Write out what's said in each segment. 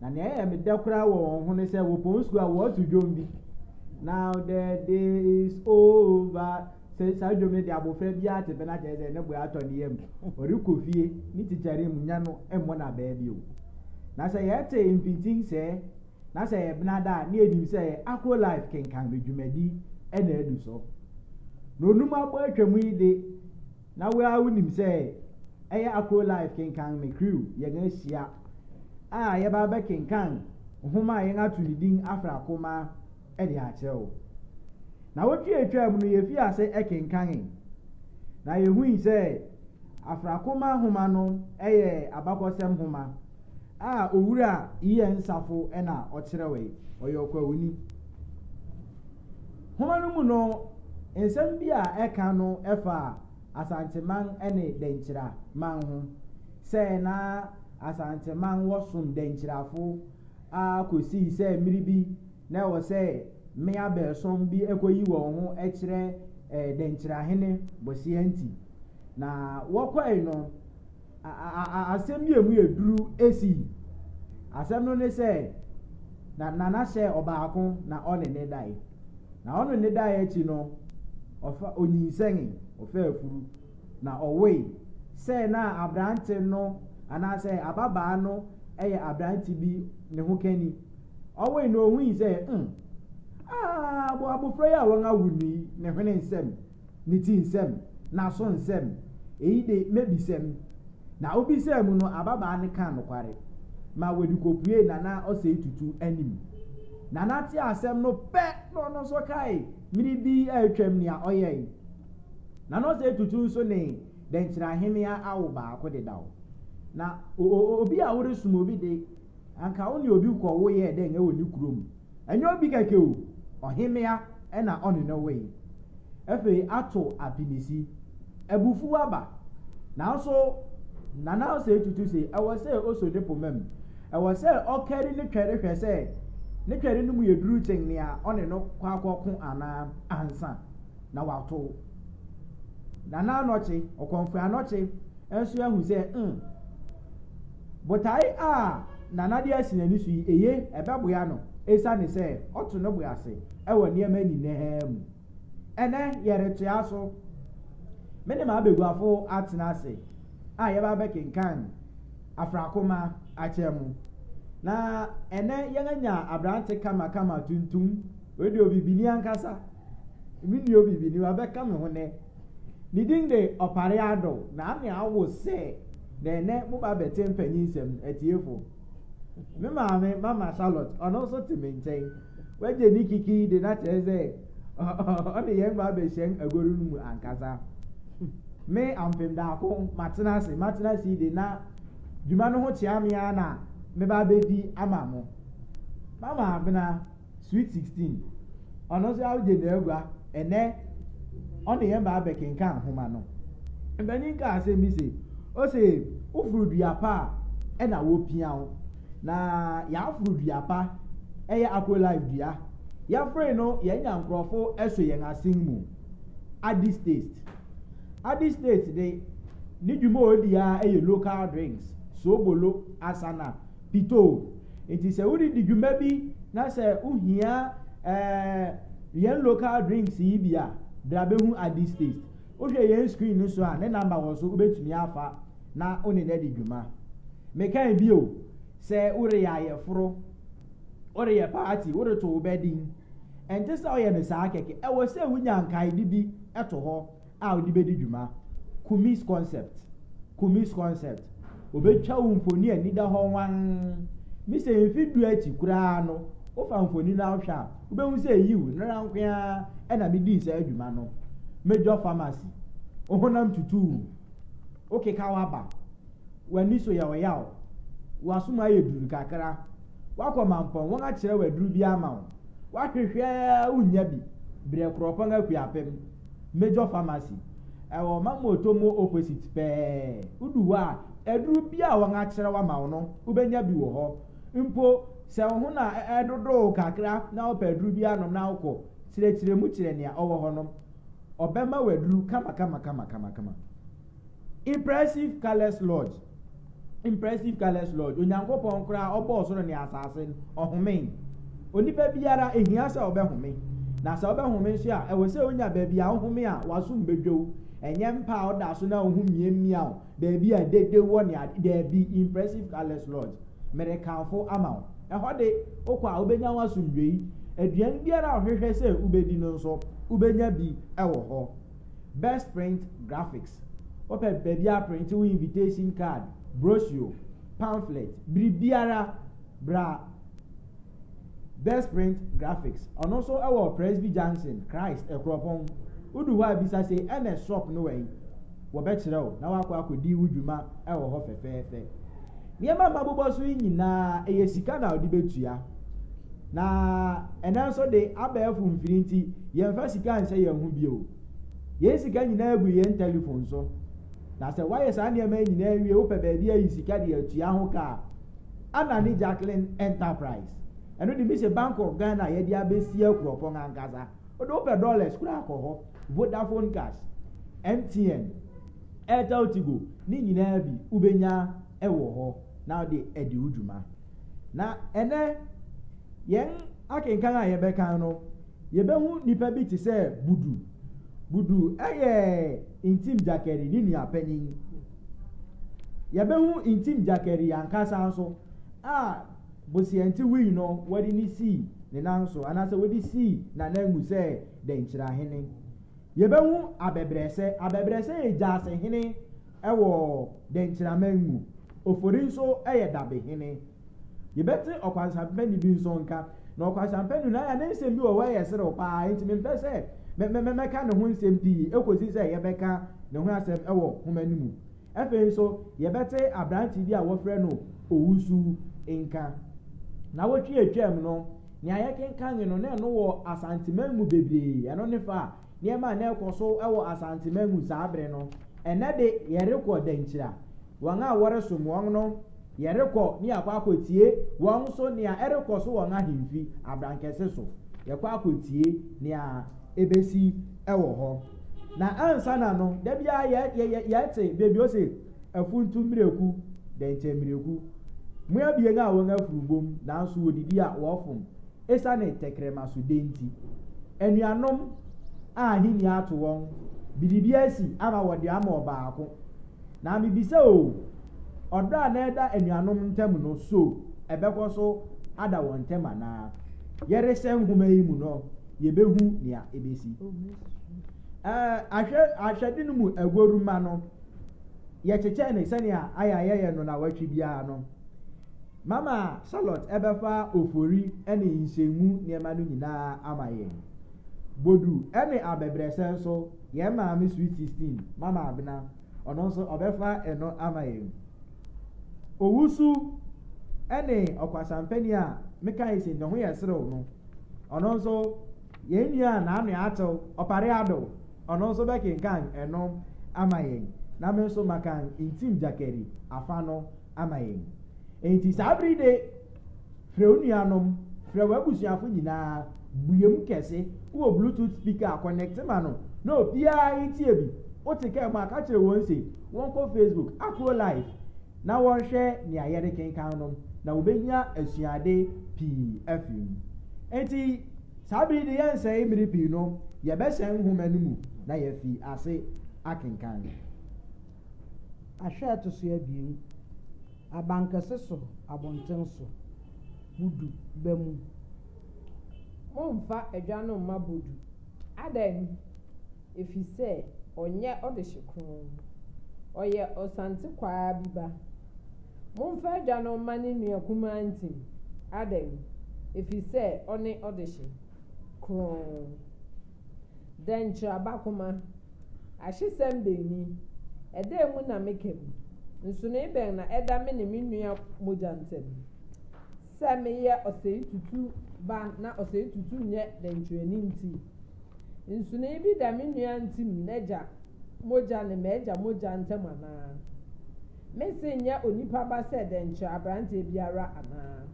Na nea ɛyɛ me dɛ koraa wɔ wɔn ho ne sɛ wɔ pɔn sukuu a wɔto dwom bi. Now the day is over. Sɛ saa dwom no de abofra bi ate pɛ na kyerɛ sɛ ne bo atɔ ne yam. Ɔrekɔ fie, ne tikyare mu nya no mmɔ no abaa bio. Na sɛ yɛte mpintin sɛɛ na sɛ yɛ benada a, na yɛnim sɛ yɛ Akro Life kenkan bɛ dwumadi na adu so. Na onum abɔ atwam yi de, Na wo ara wonim sɛ ɛyɛ Akro Life Kenkan Me Crew yɛn ahyia a yɛba abɛkenkan nhoma a yɛn ato ne din Afra Koma de akyerɛ wo. Na wotwe a etwaam no yefii ase kenkanee, na yehui sɛ Afra Koma nhoma no yɛ abakɔsɛm nhoma a Owura Ian Safo na ɔkyerɛwee, ɔyɛ ɔkwawuni. Nhoma no mu no, nsɛm bi a ɛka no fa Asanteman ne Dankyira man ho. Sɛ na Asanteman wɔ som Dankyirafo ara kosii sɛ mmere bi na ɛwɔ sɛ mmea baason bi koyi wɔn ho kyerɛ Dankyirahene Boseantwi. Na wɔkɔe no, asɛm bi a ɛmu yɛ duru sii. Asɛm no ne sɛ, na Nana hyɛɛ ɔbaako na ɔne no dae. Na ɔne no dae akyi no, ɔfa onyinsɛnee, ɔfaa afuru, na ɔwoe. Sɛ na aberante no anaasɛ ababaa no yɛ aberante bi ne ho kani. Ɔwoe no, ohui sɛ, 'Umm, ah, abofra yi a wɔawo no yi, ne hwene nsam. ne ti nsɛm, n'aso nsɛm, eyi de, m'abisam. Na obisaa mu no, ababaa no kaa nokware ma wɔde kopuee Nana Osei Tutu anim. Nana tee asɛm no pɛ na ɔno nso kae mmere bi a atwam nea ɔyɛe. Nana Osei Tutu nso ne Dɛnkyira Ahemea awo baako dedaw. Na obi a woresom obi de, anka ɔne obi kɔwo yɛɛ dɛn wɔ ne kurom? Ɛnyɛ obi kɛkɛ o, ɔhemmea na ɔne no woe. Afei ato apinisi. Abufuw aba. Nanso Nana Osei Tutu se ɛwɔ sɛ oso ne poma mu. Ɛwɔ sɛ ɔkari ne twɛre hwɛ sɛ ne twɛre no mu yɛ duru kyɛn nea ɔne no kɔ akɔko anaa ansa na watow. Nana Anokye, Ɔkɔmfoe Anokye, nso ahu sɛ, 'Umm, Botae a Nana de asi n'ani so yi, eye? Ɛbɛboa no esiane sɛ ɔto ne bo ase wɔ nneɛma nyinaa mu. Ɛnnɛ, yɛretoa so. Me ne m'abaguafo atena ase a yɛaba abɛkenkan Afrakoma akyɛ mu. Na ɛnnɛ yɛanya aberante kamakama, tuntum, wei deɛ obibini ankasa, me nua obibini, wabɛka me ho nnɛ. Ne din de Opare Addo, na na awo sɛ Na ɛnnɛ moba abɛte mpanyin nsɛm no, atiefo. Me maame, Mama Charlotte, ɔno nso te me nkyɛn. Wagye ne kiki de no akyerɛ sɛ ɔne yɛn ba abɛhyɛn agoru no mu ankasa. Me, ampem daako, matena ase, matena ase de na dwuma no ho kyea me ara na meba abedi ama mo. Mama Abena. Sweet Sixteen, ɔno nso agye n'agua ɛnnɛ ɔne yɛn baa bɛkenkan nhoma no. Mpanyin kaa asɛm bi se, ose woforo dua pa a ɛna wopia wo. Na yɛaforo dua pa, ɛyɛ Aqualife dua. Yɛforoe no yɛanya nkurɔfo so yɛn asen mu. Addis Taste. Addis Taste de, ne dwuma a odi ara yɛ local drinks, soobolo, asana, pitoo. Nti sɛ woredi dwuma bi na sɛ wohia ɛɛ yɛn local drinks yi bi a, bra bɛhu Addy's Taste. Wohwɛ yɛn screen no so a, ne number wɔ so, wobɛtumi afa na wo ne no adi dwuma. Mekae bio sɛ woreyɛ ayɛforo, woreyɛ party, woreto wo bɛ din, ɛnte sɛ woyɛ no saa kɛkɛ. Ɛwɔ sɛ wonya nkaede bi to hɔ. a wode bedi dwuma, Kumis concept, Kumis concept, obetwa wo mfoni a ani da hɔ wann. Mise mfe du akyi koraa no, wofa mfoni no ara hwɛ a, wubehu sɛ yiw, nnɛra nko ara na midii saa dwuma no. Major Pharmacy, wo honam tutuu, wokekaw aba, w'ani so yɛ ɔyaw, w'aso mu ayɛ duru kakra, woakɔ mampɔn, wɔakyerɛw aduru bi ama wo, woahwehwɛ a wunnya bi, brɛ Kuropɔn Akuapem. Major Pharmacy. Ɛwɔ Mamuotomo opposite pɛɛ. Wodu hɔ a, aduru biara a wɔakyerɛ wo ama wo no, wobɛnya bi wɔ hɔ. Mpo sɛ wo ho na ɛredodo wo kakra na wopɛ aduru bi anom na wokɔ, kyerɛkyerɛ mu kyerɛ nea ɔwɔ hɔ no. Ɔbɛma wo aduru kamakama kamakama. Impressive Colours Lodge. Impressive Colors Lodge, Onyankopɔn koraa ɔbɔ ɔsoro ne asase no, ɔhomee. Onipa biara, ehia sɛ ɔbɛhome. Na sɛ ɔbɛhome nso a, ɛwɔ sɛ onya baabi a ɔhome a w'asom bedwow. Ɛnyɛ mpa a ɔda so na wo ho miamia wo, baabi a dede wɔ ne ade, dabi, Impressive Colors Lodge, merekamfo ama wo. Ɛhɔ de, wokɔ a wubenya w'asomdwoe. Aduan biara a wohwehwɛ sɛ wubedi no nso, wubenya bi wɔ hɔ. Best Print Graphics, Wopɛ baabi aprente wo invitation card, brochure, pamphlet, biribiara, bra Best Print Graphics. Ɔno nso wɔ Presby Junction, Christ, Akuropɔn. Wodu hɔ a bisa se, Ernest shop no wɛn? Wɔbɛkyerɛ wo na woakɔ akɔdi wo dwuma wɔ hɔ fɛfɛɛfɛ. Nneɛma a mabobɔ so yi nyinaa, ɛyɛ sika na wode bɛtua. Na ɛnɛ nso de abɛɛfo mfiri nti, yɛmfa sika nhyɛ yɛn ho bio. Yɛn sika nyinaa gu yɛn telefon so. Na sɛ woayɛ saa nneɛma yi nyinaa awie, wopɛ baabi ayi sika de atua ho ka a, Anna ne Jacqueline Enterprise. Ɛno de, mise Bank of Ghana a yɛde abɛsi Akuropɔn ankasa. Wode wopɛ dollars koraa kɔ hɔ. Vodafone Cash, MTN, Airtel Tigo, ne nyinaa bi wobɛnya wɔ hɔ na wode adi wo dwuma. Na ɛnnɛ, yɛn akenkan a yɛbɛkan no, yɛbɛhu nipa bi te sɛ Budu. Budu yɛ Ntim Gyakɛri ne nua panyin. Yɛbɛhu Ntim Gyakɛri ankasa nso a Bosianti wui no, wɔde no sii ne nan so anaasɛ wɔde sii n'ananmu sɛ Dɛnkyirahene. Yɛbɛhu abɛbrɛsɛ. Abɛbrɛsɛ yɛ gyasehene wɔ Dɛnkyiraman mu. Ofori nso yɛ dabehene. Yɛbɛte Ɔkwansampani bi nso nka. Na Ɔkwansampani no, ne nsɛm bi wɔ hɔ a ɛyɛ serew pa ara, enti mempɛ sɛ mɛka ne ho nsɛm pii kosi sɛ yɛbɛka ne ho asɛm wɔ nhoma no mu. Afei nso, yɛbɛte aberante bi a wɔfrɛ no Owusu nka. Nnawɔtwe a atwam no, nea yɛkenkanee no, na ɛno wɔ Asanteman mu bebree. Ɛno ne fa a nneɛma a na ɛrekɔ so wɔ Asanteman mu saa bere no. Ɛnnɛ de, yɛrekɔ Dankyira. Wɔn a wɔresom wɔn no Yɛrekɔ ne yɛakɔ akɔtie wɔn nso nea ɛrekɔ so wɔn ahemfi abrankɛse so. Yɛkɔ akɔtie nea ɛbɛsi wɔ hɔ. Na ansa na no, da biara yɛ, yɛ, yɛ, yɛte baabi ose, Afuntu mmireku, dɛnkyɛm mmireku. Mo abien a wɔn afuru bom, nanso wɔdidi a wɔfom, esiane tɛkrɛma so dɛ nti. Anuanom a ahenni ato wɔn, biribi asi ama wɔde ama ɔbaako. Na mibisa o, ɔdɔ a na ɛda anuanom ntam no, so ɛbɛkɔ so ada wɔn ntam anaa? Yɛrehyɛ nhoma yi mu no, yebehu nea ebesi. Ɛɛ, ahwɛde no mu agoru-mma no, yɛkyekyɛɛ no sɛnea ayɛ a yɛyɛ no nnawɔtwe biara no. Mama Charlotte bɛfa ofori ne nhyiam mu nneɛma no nyinaa ama yɛn. Bodu ne abɛbrɛsɛ nso, yɛn maame Sweet Sixteen, Mama Abena, ɔno nso ɔbɛfa ɛno ama yɛn. Owusu ne ɔkwasampani a mekae sɛ ne ho yɛ serew no, ɔno nso yɛn nua a n'ano atew, Ɔpare Ado, ɔno nso bɛkenkan ɛno ama yɛn, na me nso makan Ntim Gyakari afa no ama yɛn. Enti saa bere yi de, frɛ wo nuanom, frɛ w'abusuafo nyinaa, bue mu kɛse, wowɔ Bluetooth speaker a, kɔnɛkte ma no na obiara ntie bi. Wote kaa mu a, ka kyerɛ wɔn se wɔnkɔ Facebook, Akuro Live, na wɔnhwɛ nea yɛrekenkan no, na wobenya asuade pii afi mu. Enti saa bere yi de, yɛrensɛe mmere pii no, yɛbɛhyɛn nhoma no mu na yɛafi ase akenkan. Ahwɛ a ɛto so abien, Abankɛse so abɔnten so, Bodu ba mu. Mommfa adwa no mma Bodu. Adɛn? Efisɛ ɔnyɛ ɔdehye kronn. Ɔyɛ ɔsantekwaa bi ba. Mommfa adwa no mma ne nua kumaa Ntim. Adɛn? Efisɛ ɔne ɔdehye kronn. Dɛ nkyerɛba koma, ahyesɛm bɛn ni, ɛdɛn mu na meka mu? Nsonoe bɛn na ɛda me ne me nua mogya ntam? Sɛ meyɛ ɔsɛetutu ba na ɔsɛetutu nyɛ dɛnkyerɛni nti, nsonoe bi da me nua ntim n'agya mogya ne m'agya mogya ntam anaa? Mese nyɛ onipa ba sɛ dɛnkyerɛ aberanteɛ biara anaa?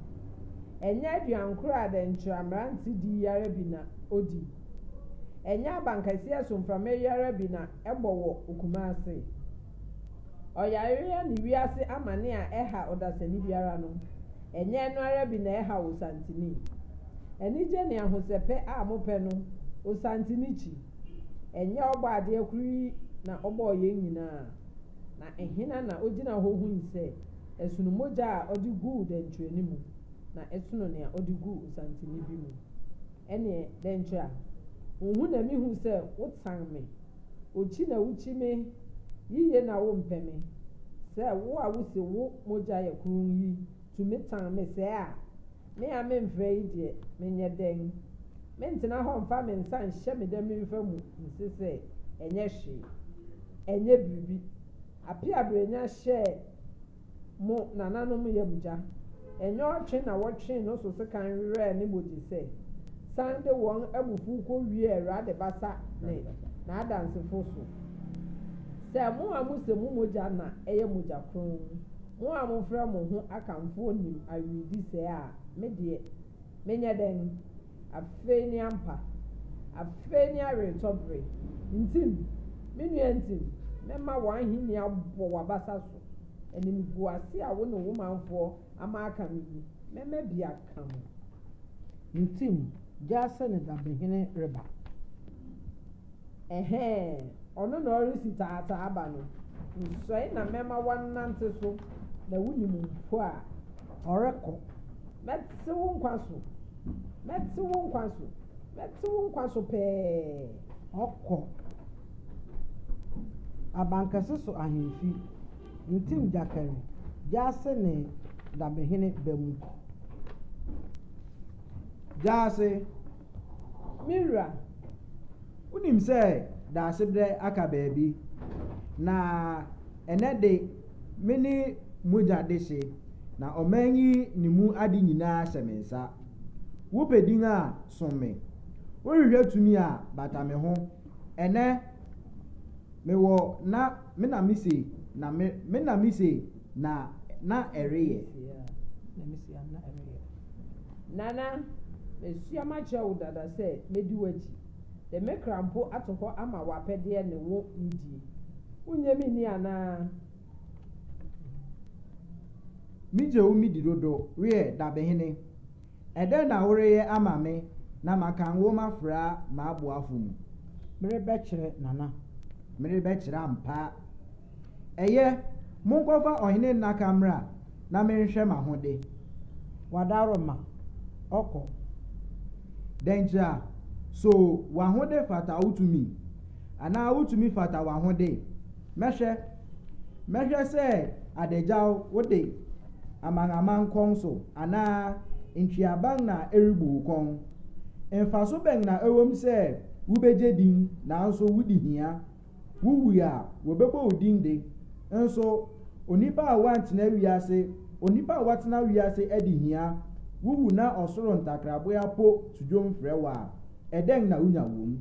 Ɛnyɛ aduankoro a dɛnkyerɛ mmerante di yi ara bi na ɔdi? Ɛnyɛ abankɛseɛ so mframa yi ara bi na ɛbɔ wɔ Kumase? Ɔyareɛ ne wiase amane a ɛha ɔdasani biara no, ɛnyɛ ɛno ara bi na ɛhaw Osantini? Anigye ne ahosɛpɛ a mopɛ no, Osantini kyi. Ɛnyɛ Ɔbɔadeɛ koro yi na ɔbɔɔ yɛn nyinaa? Na hena na ogyina hɔ hui sɛ ɛsono mogya a ɔde guu dɛnkyerɛni mu, na ɛsono nea ɔde guu nsantene bi mu? Ɛnneɛ, dɛn nti a wunhu na mihu sɛ wotan me? Okyi na wukyi me yiye na wompɛ me? Sɛ wo a wuse wo mogya yɛ kronn yi tumi tan me sɛɛ a, Me a memfra yi deɛ, menyɛ dɛn? Mentena hɔ mfa me nsa nhyɛ me dɛmemfa mu nse sɛ, Ɛnyɛ hwee. Ɛnyɛ biribi. Apeabrɛnya hyɛɛ mo nananom yam gya. Ɛnyɛ ɔtwe na wɔtwee no so sekan werɛɛ ne mogyesɛ, san de wɔn abufuw kowiee Awurade basa ne N'adansefo so, sɛ mo a mose mo mogya na ɛyɛ mogya kronn. Mo a mofrɛ mo ho akamfoɔ nim awi di sɛɛ a, me deɛ, menyɛ dɛn? Afei ne ampa, afei ne aweretɔ bere. Ntim, me nua, ntim, mɛma w'ahennie abɔ w'abasa so, animguase a wo ne wo manfoɔ ama aka no mu, mɛma bi aka mo. Ntim, gyaa sɛ ne dabehene reba. Ɛhɛɛ, ɔno na ɔresi taataa aba no, nsɔe na mɛma woanante so, na wunim mpo a, ɔrekɔ. Mɛte wo nkwa so, mɛte wo nkwa so, mɛte wo nkwa so pɛɛ. Ɔkɔ abankɛse so ahemfi, ntim gyakɛre, gyaase ne dabehene ba mu. Gyaase. Me wura, wonim sɛ Daasebrɛ aka baabi, na ɛnnɛ de, me ne mogya dehye, na ɔman yi ne mu ade nyinaa hyɛ me nsa. Wopɛ din a, som me. Wohwehwɛ tumi a, bata me ho. Ɛnnɛ, mewɔ na me na mise, na me na mise. Na na ɛreyɛ. Na mesuam na ɛreyɛ. Nana, masuam akyerɛ wo dada sɛ mɛdi w'akyi, de me kra mpo ato hɔ ama w'apɛdeɛ ne wo nidie. Wonnye me nni anaa? Megye wo medi dodo, wiɛ, dabehene. Ɛdɛn na woreyɛ ama me na maka nwoma fra m'aboafo mu? Merebɛkyerɛ, Nana. Merebɛkyerɛ ampa. Ɛyɛ, monkɔfa ɔhene nnaka mmra na menhwɛ m'ahode. Wadaro ma ɔkɔ. Dɛnkyira, so w'ahode fata wo tumi? Anaa wo tumi fata w'ahode? Mɛhwɛ. Mɛhwɛ sɛ adagyaw wo de amanaman kɔn so anaa ntweaban na ɛrebu wo kɔn. Mfaso bɛn na ɛwom sɛ wubegye din nanso wudi hia? Wuwui a, wɔbɛbɔ wo din de. Nso, onipa a woantena wiase, onipa a woatena wiase adi hia, wuwu na ɔsoro ntakraboa po to dwom frɛ wo a, ɛdɛn na wunya wom?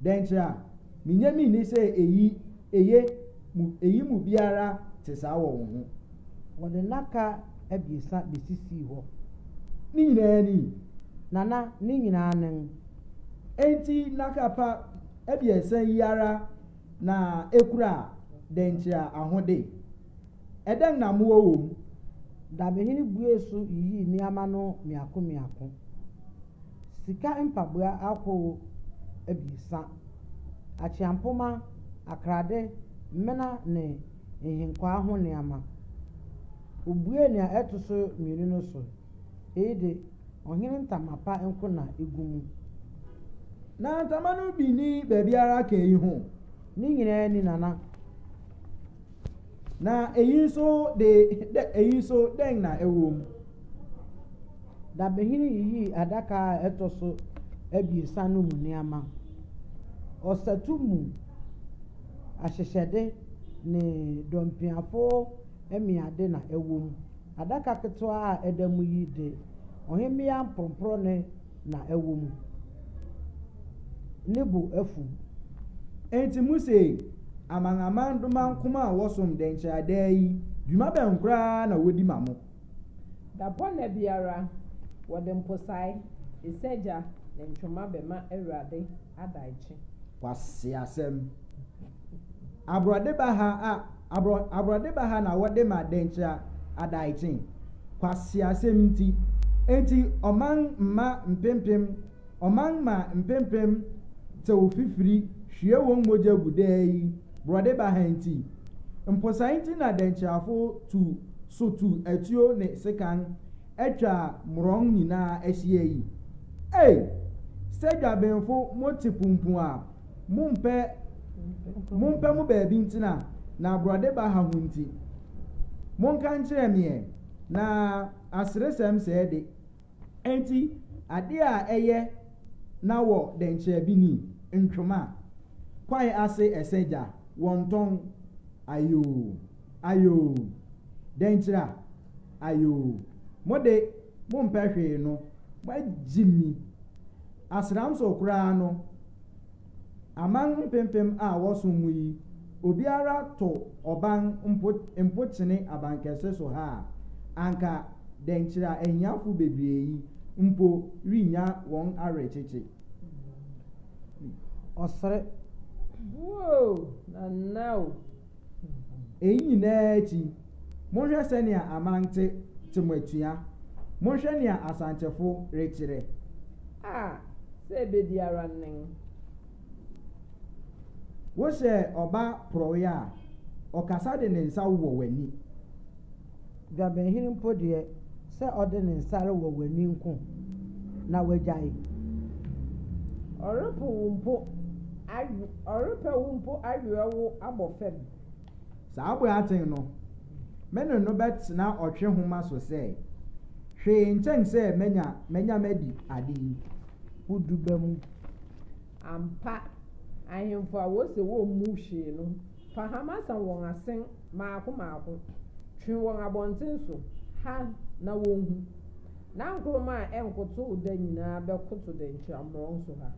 Dɛnkyerɛ a minya minni sɛ eyi, eye, mu, eyi mu biara te saa wɔ wo ho. Wɔde nnaka abiɛsa besisii hɔ. Ne nyinaa ni? Nana, ne nyinaa nen. Enti nnaka pa. abiɛsa yi ara na ekura dɛnkyira ahode. Ɛdɛn na mowɔ wom? Dabehene buee so yiyii nneɛma no mmiako mmiako. Sika mpaboa ahorow abiɛsa, akyeampoma, akrade, mmena ne nhenkwaa ho nneɛma. Obuee nea ɛto so mmienu no so Eyi de, ɔhene ntama pa nko na egu mu. Na ntama no bi nni baabiara ka eyi ho. Ne nyinaa ni, Nana. Na eyi nso de, dɛ eyi nso dɛn na ɛwɔ mu? Dabehene yiyii adaka a ɛtɔ so abiɛsa no mu nneɛma. Ɔsatu mu ahyehyɛde ne dɔmpiafo mmeade na ɛwɔ mu. Adaka ketewa a ɛda mu yi de, ɔhemmea mporɔmporɔne na ɛwɔ mu. Ne bo afuw. Enti muse, Amanaman domankoma a wɔsom dɛnkyɛra daa yi, dwuma bɛn koraa na wodi ma mo? Dapɔnna biara, wɔde mposae, esergya, ne ntwoma bɛma Awurade adaekye. Kwaseasɛm! Aborɔde baha a aborɔ aborɔde baha na wɔde ma Dɛnkyira Adaekye. Kwaseasɛm nti. Enti ɔman mma mpempem ɔman mma mpempem tew fifiri hwie wɔn mogya gu daa yi borɔde baha nti. Mposae nti na Dɛnkyirafo tu so tu atuo ne sekan atwa mmorɔn nyinaa ahyia yi. Ei! Sɛ Dwabenfo mote pumpun a Mompɛ mompɛ mo baabi ntena, na aborɔde ba ha ho nti, monka nkyerɛ me ɛ, na aseresɛm sɛɛ de, enti adeɛ a ɛyɛ na wɔ dɛnkyerɛ bi ni, ntwoma, kwae ase ɛsɛ gya, wɔntɔn, ayoo, ayoo, dɛnkyira, ayoo, mo de mompɛ hwee no, moagyimi, asram so koraa no, Aman mpempem a wɔsom mu yi, obiara to ɔban mpo mpo kyene abankɛse so ha a, anka dɛnkyira ahiafo bebree yi mpo rennya wɔn awerekyekye. Ɔsere. Woo! Nana o! Eyi nyinaa akyi, monhwɛ sɛnea Amante te mo atua. Monhwɛ nea Asantefoɔ rekyerɛ. A, sɛ ɛbɛ biara nen. Wohyɛ ɔba porɔeɛ a, ɔkasa de ne nsa wowɔ w'ani. Dwabenhene mpo deɛ, sɛ ɔde ne nsa rewɔ w'ani nko na wagyae. Ɔrepo wo mpo awe, ɔrepɛ wo mpo aweɔ wo abɔ fam. Saa Boateng no, me ne no bɛtena ɔtwe homa so sɛ, hwee nkyɛn sɛ manya manya madi ade yi ho duba mu. Ampa, ahemfo a wɔse wɔmmu hwee no Fa hama sɛn wɔn asen mmaako mmaako, twe wɔn abɔnten so ha na wɔnhu, na nkoroma a ɛnkotow da nyinaa bɛkoto dɛnkyira mmorɔn so ha,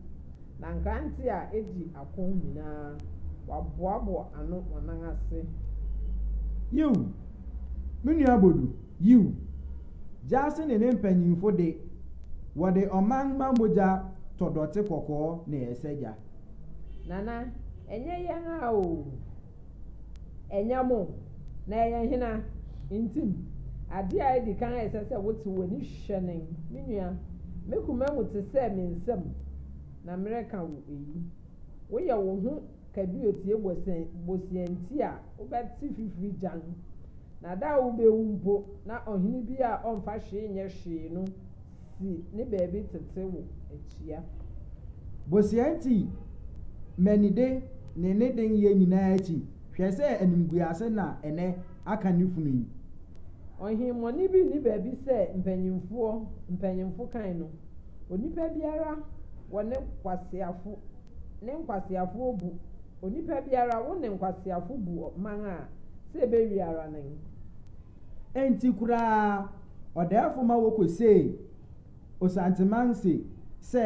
na nkrante a edi ako nyinaa, wɔaboaboa ano wɔn nan ase ha. Yiw, me nua Bodu, yiw. Gyasi ne ne mpanyimfo de, wɔde ɔmanmma mogya tɔ dɔte kɔkɔɔ na ɛsɛ gya. Nana, ɛnyɛ yɛn a o, ɛnyɛ mo, na ɛyɛ hena nti? Ade a edi kan a ɛsɛ sɛ wote w'ani hwɛ nen, me nua, me koma mu te sɛ me nsam na mereka wo eyi. Woyɛ wo ho kaduotie bosea nti a wobɛte fifiri gyann, na da a wubewu mpo na ɔhene bi a ɔmfa hwee nyɛ hwee no si ne baabi tete wo atua. Bosea nti mmanide ne ne den yɛ nyinaa akyi, hwɛ sɛ animguase na ɛnɛ aka ne funu yi. Ɔhemmɔne bi nni baabi sɛ mpanyimfoɔ mpanyimfo kan no, onipa biara wɔ ne nkwaseafo ne nkwaseafo obu, onipa biara wo ne nkwaseafo bu ɔman a sɛ ɛbɛwie ara nen. Enti koraa ɔdaɛfo ma wokosee Osantemanse sɛ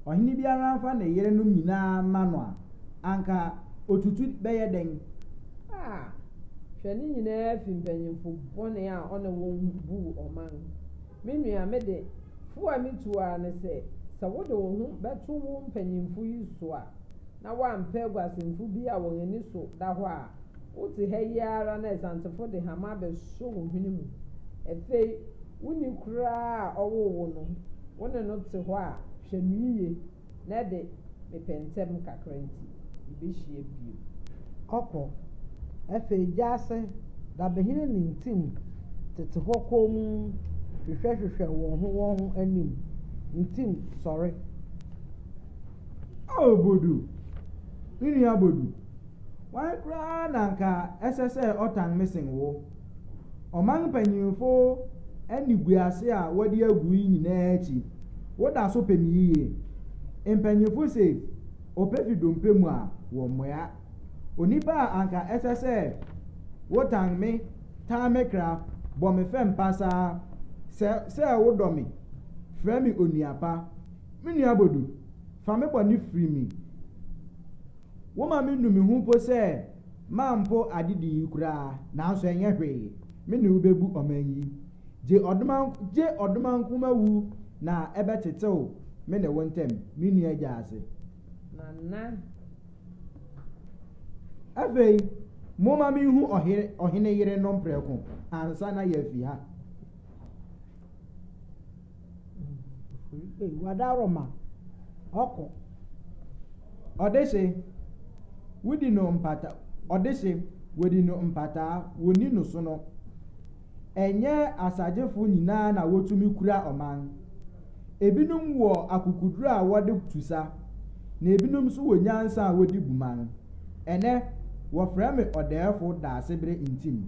ɔhene biara mfa ne yerenom nyinaa mma no a, anka otutu bɛyɛ dɛn? Ah, hwɛ ne nyinaa fi mpanyimfo bɔne a ɔne wɔn buu ɔman. Me nua, me de, fo a mitu ara ne sɛ, sɛ wode wo ho bɛto wo mpanyimfo yi so a, na woampɛ aguasɛmfo bi a wɔn ani so da hɔ a Wote ha yi ara na Asantefo de hama abɛsɔ wo hwene mu. Afei wo ni koraa a ɔwoo wo no, wo ne no te hɔ a, hwɛ no yiye. Nnɛ de, mepɛ ntɛm kakra nti, yebehyia bio. Ɔkɔ. Afei gya ase dabehene ne ntim tete hɔ komm hwehwɛhwehwɛ wɔn ho wɔn ho anim. Ntim, sɔre! O Bodu! Me nua Bodu! Hwan koraa na anka ɛsɛ sɛ ɔtan me sen wo? Ɔman mpanyimfo animguase a wɔde agu yi nyinaa akyi, woda so pɛ me yiye? Mpanyimfo se, Ɔpɛ fi dompe mu a, wɔmmoa. Onipa a anka ɛsɛ sɛ wotan me, tan me kra, bɔ me fɛm pasaa, sɛ sɛ wodɔ me, frɛ me onua pa. Me nua Bodu, fa me bɔne firi me. Woma me nu me ho mpo sɛ mampo adedi yi koraa, nanso ɛnyɛ hwee, me ne wo bɛbu ɔman yi. Gye ɔdomanko gye ɔdomanko ma wu na ɛbɛtetew me ne wo ntam, me nua agya ase. Nana. Afei, momma menhu ɔhene ɔhene yere no mprɛko ansa na yɛafi ha. Wadaroma ɔkɔ. Ɔdehye, wodi no mpata ɔdehye, wodi no mpataa, wonni no sono. Ɛnyɛ asagyefo nyinaa na wotumi kura ɔman. Ebinom wɔ akokoduru a wɔde tu sa, na ebinom nso wɔ nyansa a wɔde bu man. Ɛnnɛ, wɔfrɛ me ɔdɛɛfo daasebere ntim.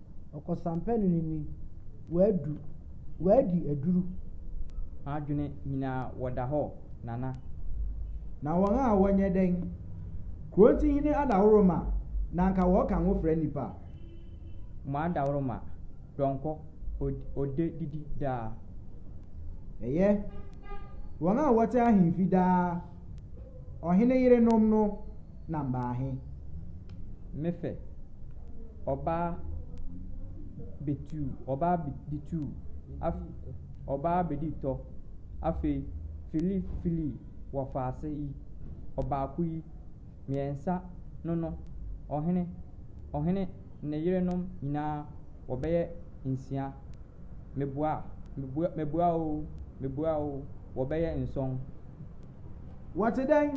Ɔkɔsampɛne no ni, W'adu, w'adi aduru. M'adwene nyinaa wɔda hɔ Nana. Na wɔn a wɔnyɛ dɛn? Kurontihene Adaworoma na anka wɔka nwo frɛ nnipa a. Mo Adaworoma, Dɔnkɔ, ɔdɛ didi daa. Ɛyɛ, wɔn a wɔte ahemfi daa. Ɔhene yerenom no nam baa he? Me fɛ, ɔbaa betuu, ɔbaa betuu, af, ɔbaa bedii tɔ. Afei, fili, fili wɔ faase yi, ɔbaako yi, mmiɛnsa no no, ɔhene, ɔhene ne yerenom nyinaa wɔbɛyɛ nsia. Meboa, meboa, meboa oo, meboa oo, wɔbɛyɛ nsɔn. Wɔte dɛn?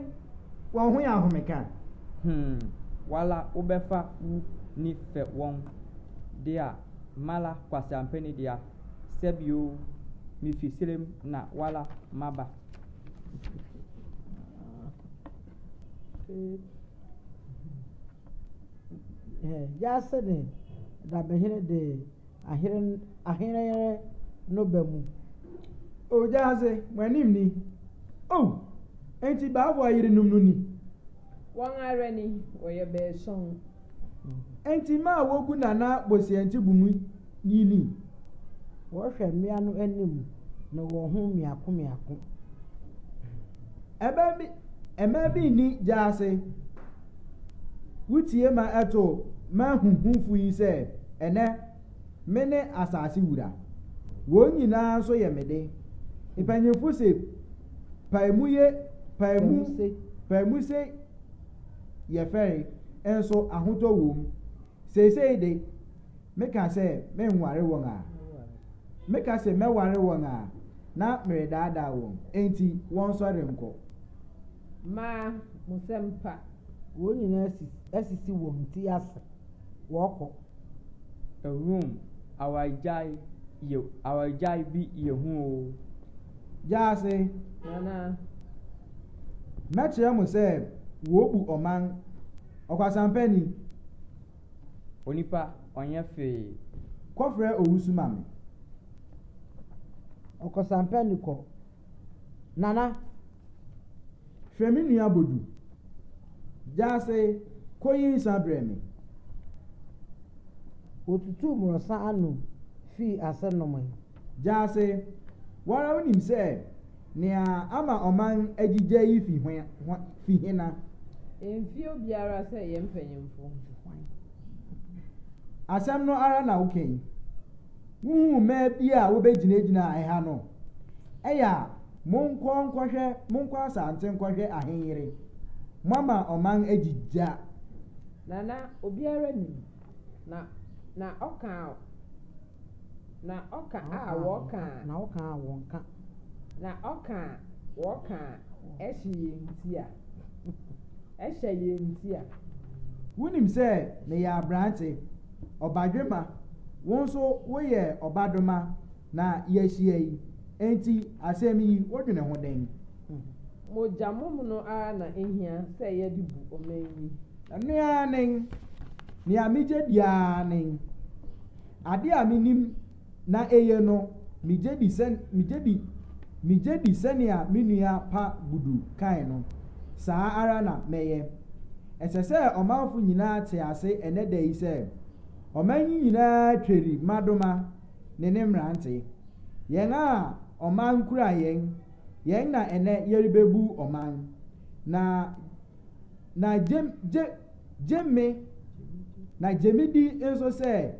Wɔn ho yɛ ahomeka? Hmm, wala wobɛfa wo ni fɛ wɔn dea, mala kwaseampɛ ni dea, sɛbi oo, mifi serem na wala maba. Yase ne Dabehene de Ahere ahere no ba mu. Ogyaadze, mo anim ni. Oh! Enti baabu ayerenom no ni? Wɔn ara ni, wɔyɛ baason. Enti mma a wogu Nana Bosianti bum yi ni? Wɔhwɛ mmea no anim no wɔn ho mmiako mmiako. Ɛbɛn bi, mmaa bi nni gyaase. Wotie ma ɛto m'ahuhufo yi sɛ, Ɛnnɛ, mene asase wura. Wɔn nyinaa nso yɛ me de. Mpanyimfo se, Pae mu ye, pae mu, pae mu se yɛ fɛre, nso ahotɔ wom. Seesei de, meka sɛ merenware wɔn a. Meka se mɛware wɔn a, na meredaadaa wɔn. Enti wɔnsɔre nkɔ. Maa mo nsɛm pa. Wɔn nyinaa asisi wɔn ti ase wɔkɔ. Awurom awaregyae yɛ awaregyae bi yɛ hu oo. Gyaase. Nana. Mɛkyerɛ mo sɛ wɔbu ɔman ɔkwasampɛ ni. Onipa ɔnyɛ hwee. Kɔfrɛ owusu ma me. Ɔkwasampɛ ni kɔ. Nana, hwɛ me nua Bodu. Gyaase, kɔyi nsã brɛ me. Ɔtutuu mmorɔsa ano fii ase nomee. Gyaase, wo ara wonim sɛ nea ama ɔman agyigya yi fi hena? Ɛmfie obiara sɛ yɛn mpanyimfo. Asɛm no ara na woka yi. Wohuu mmaa bi a wobegyinagyinaa ɛha no? Ɛyɛ a, monkɔ nkɔhwɛ, monkɔ asante nkɔhwɛ ahenyere. Moama ɔman agyi gya. Na na obiara nim, na, na ɔka a, na ɔka a wɔka a. Na ɔka a wɔka. Na ɔka a wɔka a ɛhye yɛn ti a, ɛhyɛ yɛn ti a. Wonim sɛ meyɛ aberante, ɔbadwemma, wo nso woyɛ ɔbadoma, Na yɛahyia yi, enti asɛm yi wodwene ho dɛn? Mogyamom no ara na ehia sɛ yɛde bu ɔman yi. Ɛno ara nen. Nea migye di ara nen. Ade a minim na eye no, migye di sɛ, migye di, migye di sɛnea me nua pa Gudu kae no, saa ara na mɛyɛ. Ɛsɛ sɛ ɔmanfo nyinaa te ase ɛnnɛ da yi sɛ, ɔman yi nyinaa tweri mmadoma. ne ne mmerante. Yɛn a ɔman kura yɛn, yɛn na ɛnnɛ yɛrebebu ɔman. Na, na gye, gye, gye me, na gye me di nso sɛ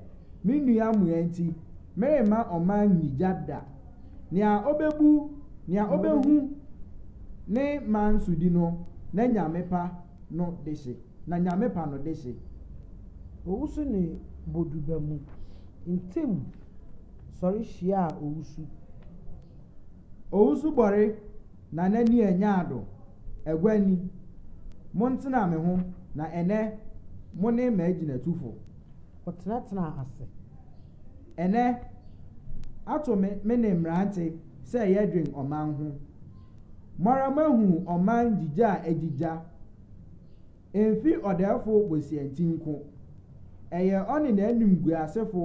me nua mmoa nti, meremma ɔman nyi gya da. Nea obebu, nea obehu ne man sodi no, na Nyame pa no dehye, na Nyame pa no dehye. Owusu ne Boduba mu. ntamu sɔre hyiaa Owusu. Owusu bɔre na n'ani anyaa do, Agua ni, montsena me ho na enɛ mone m'agyinatufo. Wɔtenatenaa ase. Enɛ, ato me mene mmerante sɛ yɛdwen ɔman ho. Moara moahu ɔman gyigya a egyigya Emfi ɔdɛɛfo bosea nti nko. Ɛyɛ ɔne n'animguasefo,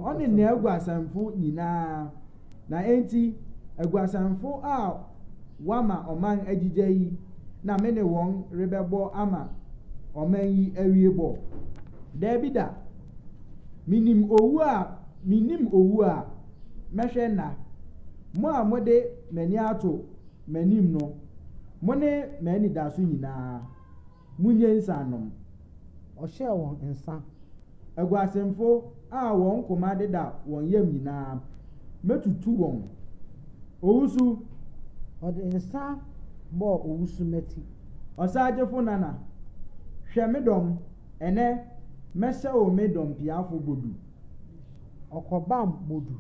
ɔne n'aguasanfo nyinaa. Na enti, aguasanfo a wɔama ɔman agyigya yi na me ne wɔn rebɛbɔ ama ɔman yi awie bɔ? Dabi da! Minim owu a minnim owu a mɛhwɛ nna, mo a mode m'ani ato m'anim no, mo ne m'anidaso nyinaa, munnye nsã nnom. Ɔhyɛɛ wɔn nsã. Aguasemfo a wɔn koma deda wɔn yam nyinaa, mɛtutu wɔn. Owusu. Ɔde nsã bɔɔ owusu mmati. Ɔsagyefo Nana, hwɛ me dɔm, ɛnnɛ mɛhyɛ wo me dɔmpiafo Bodu. Ɔkɔbam Bodu.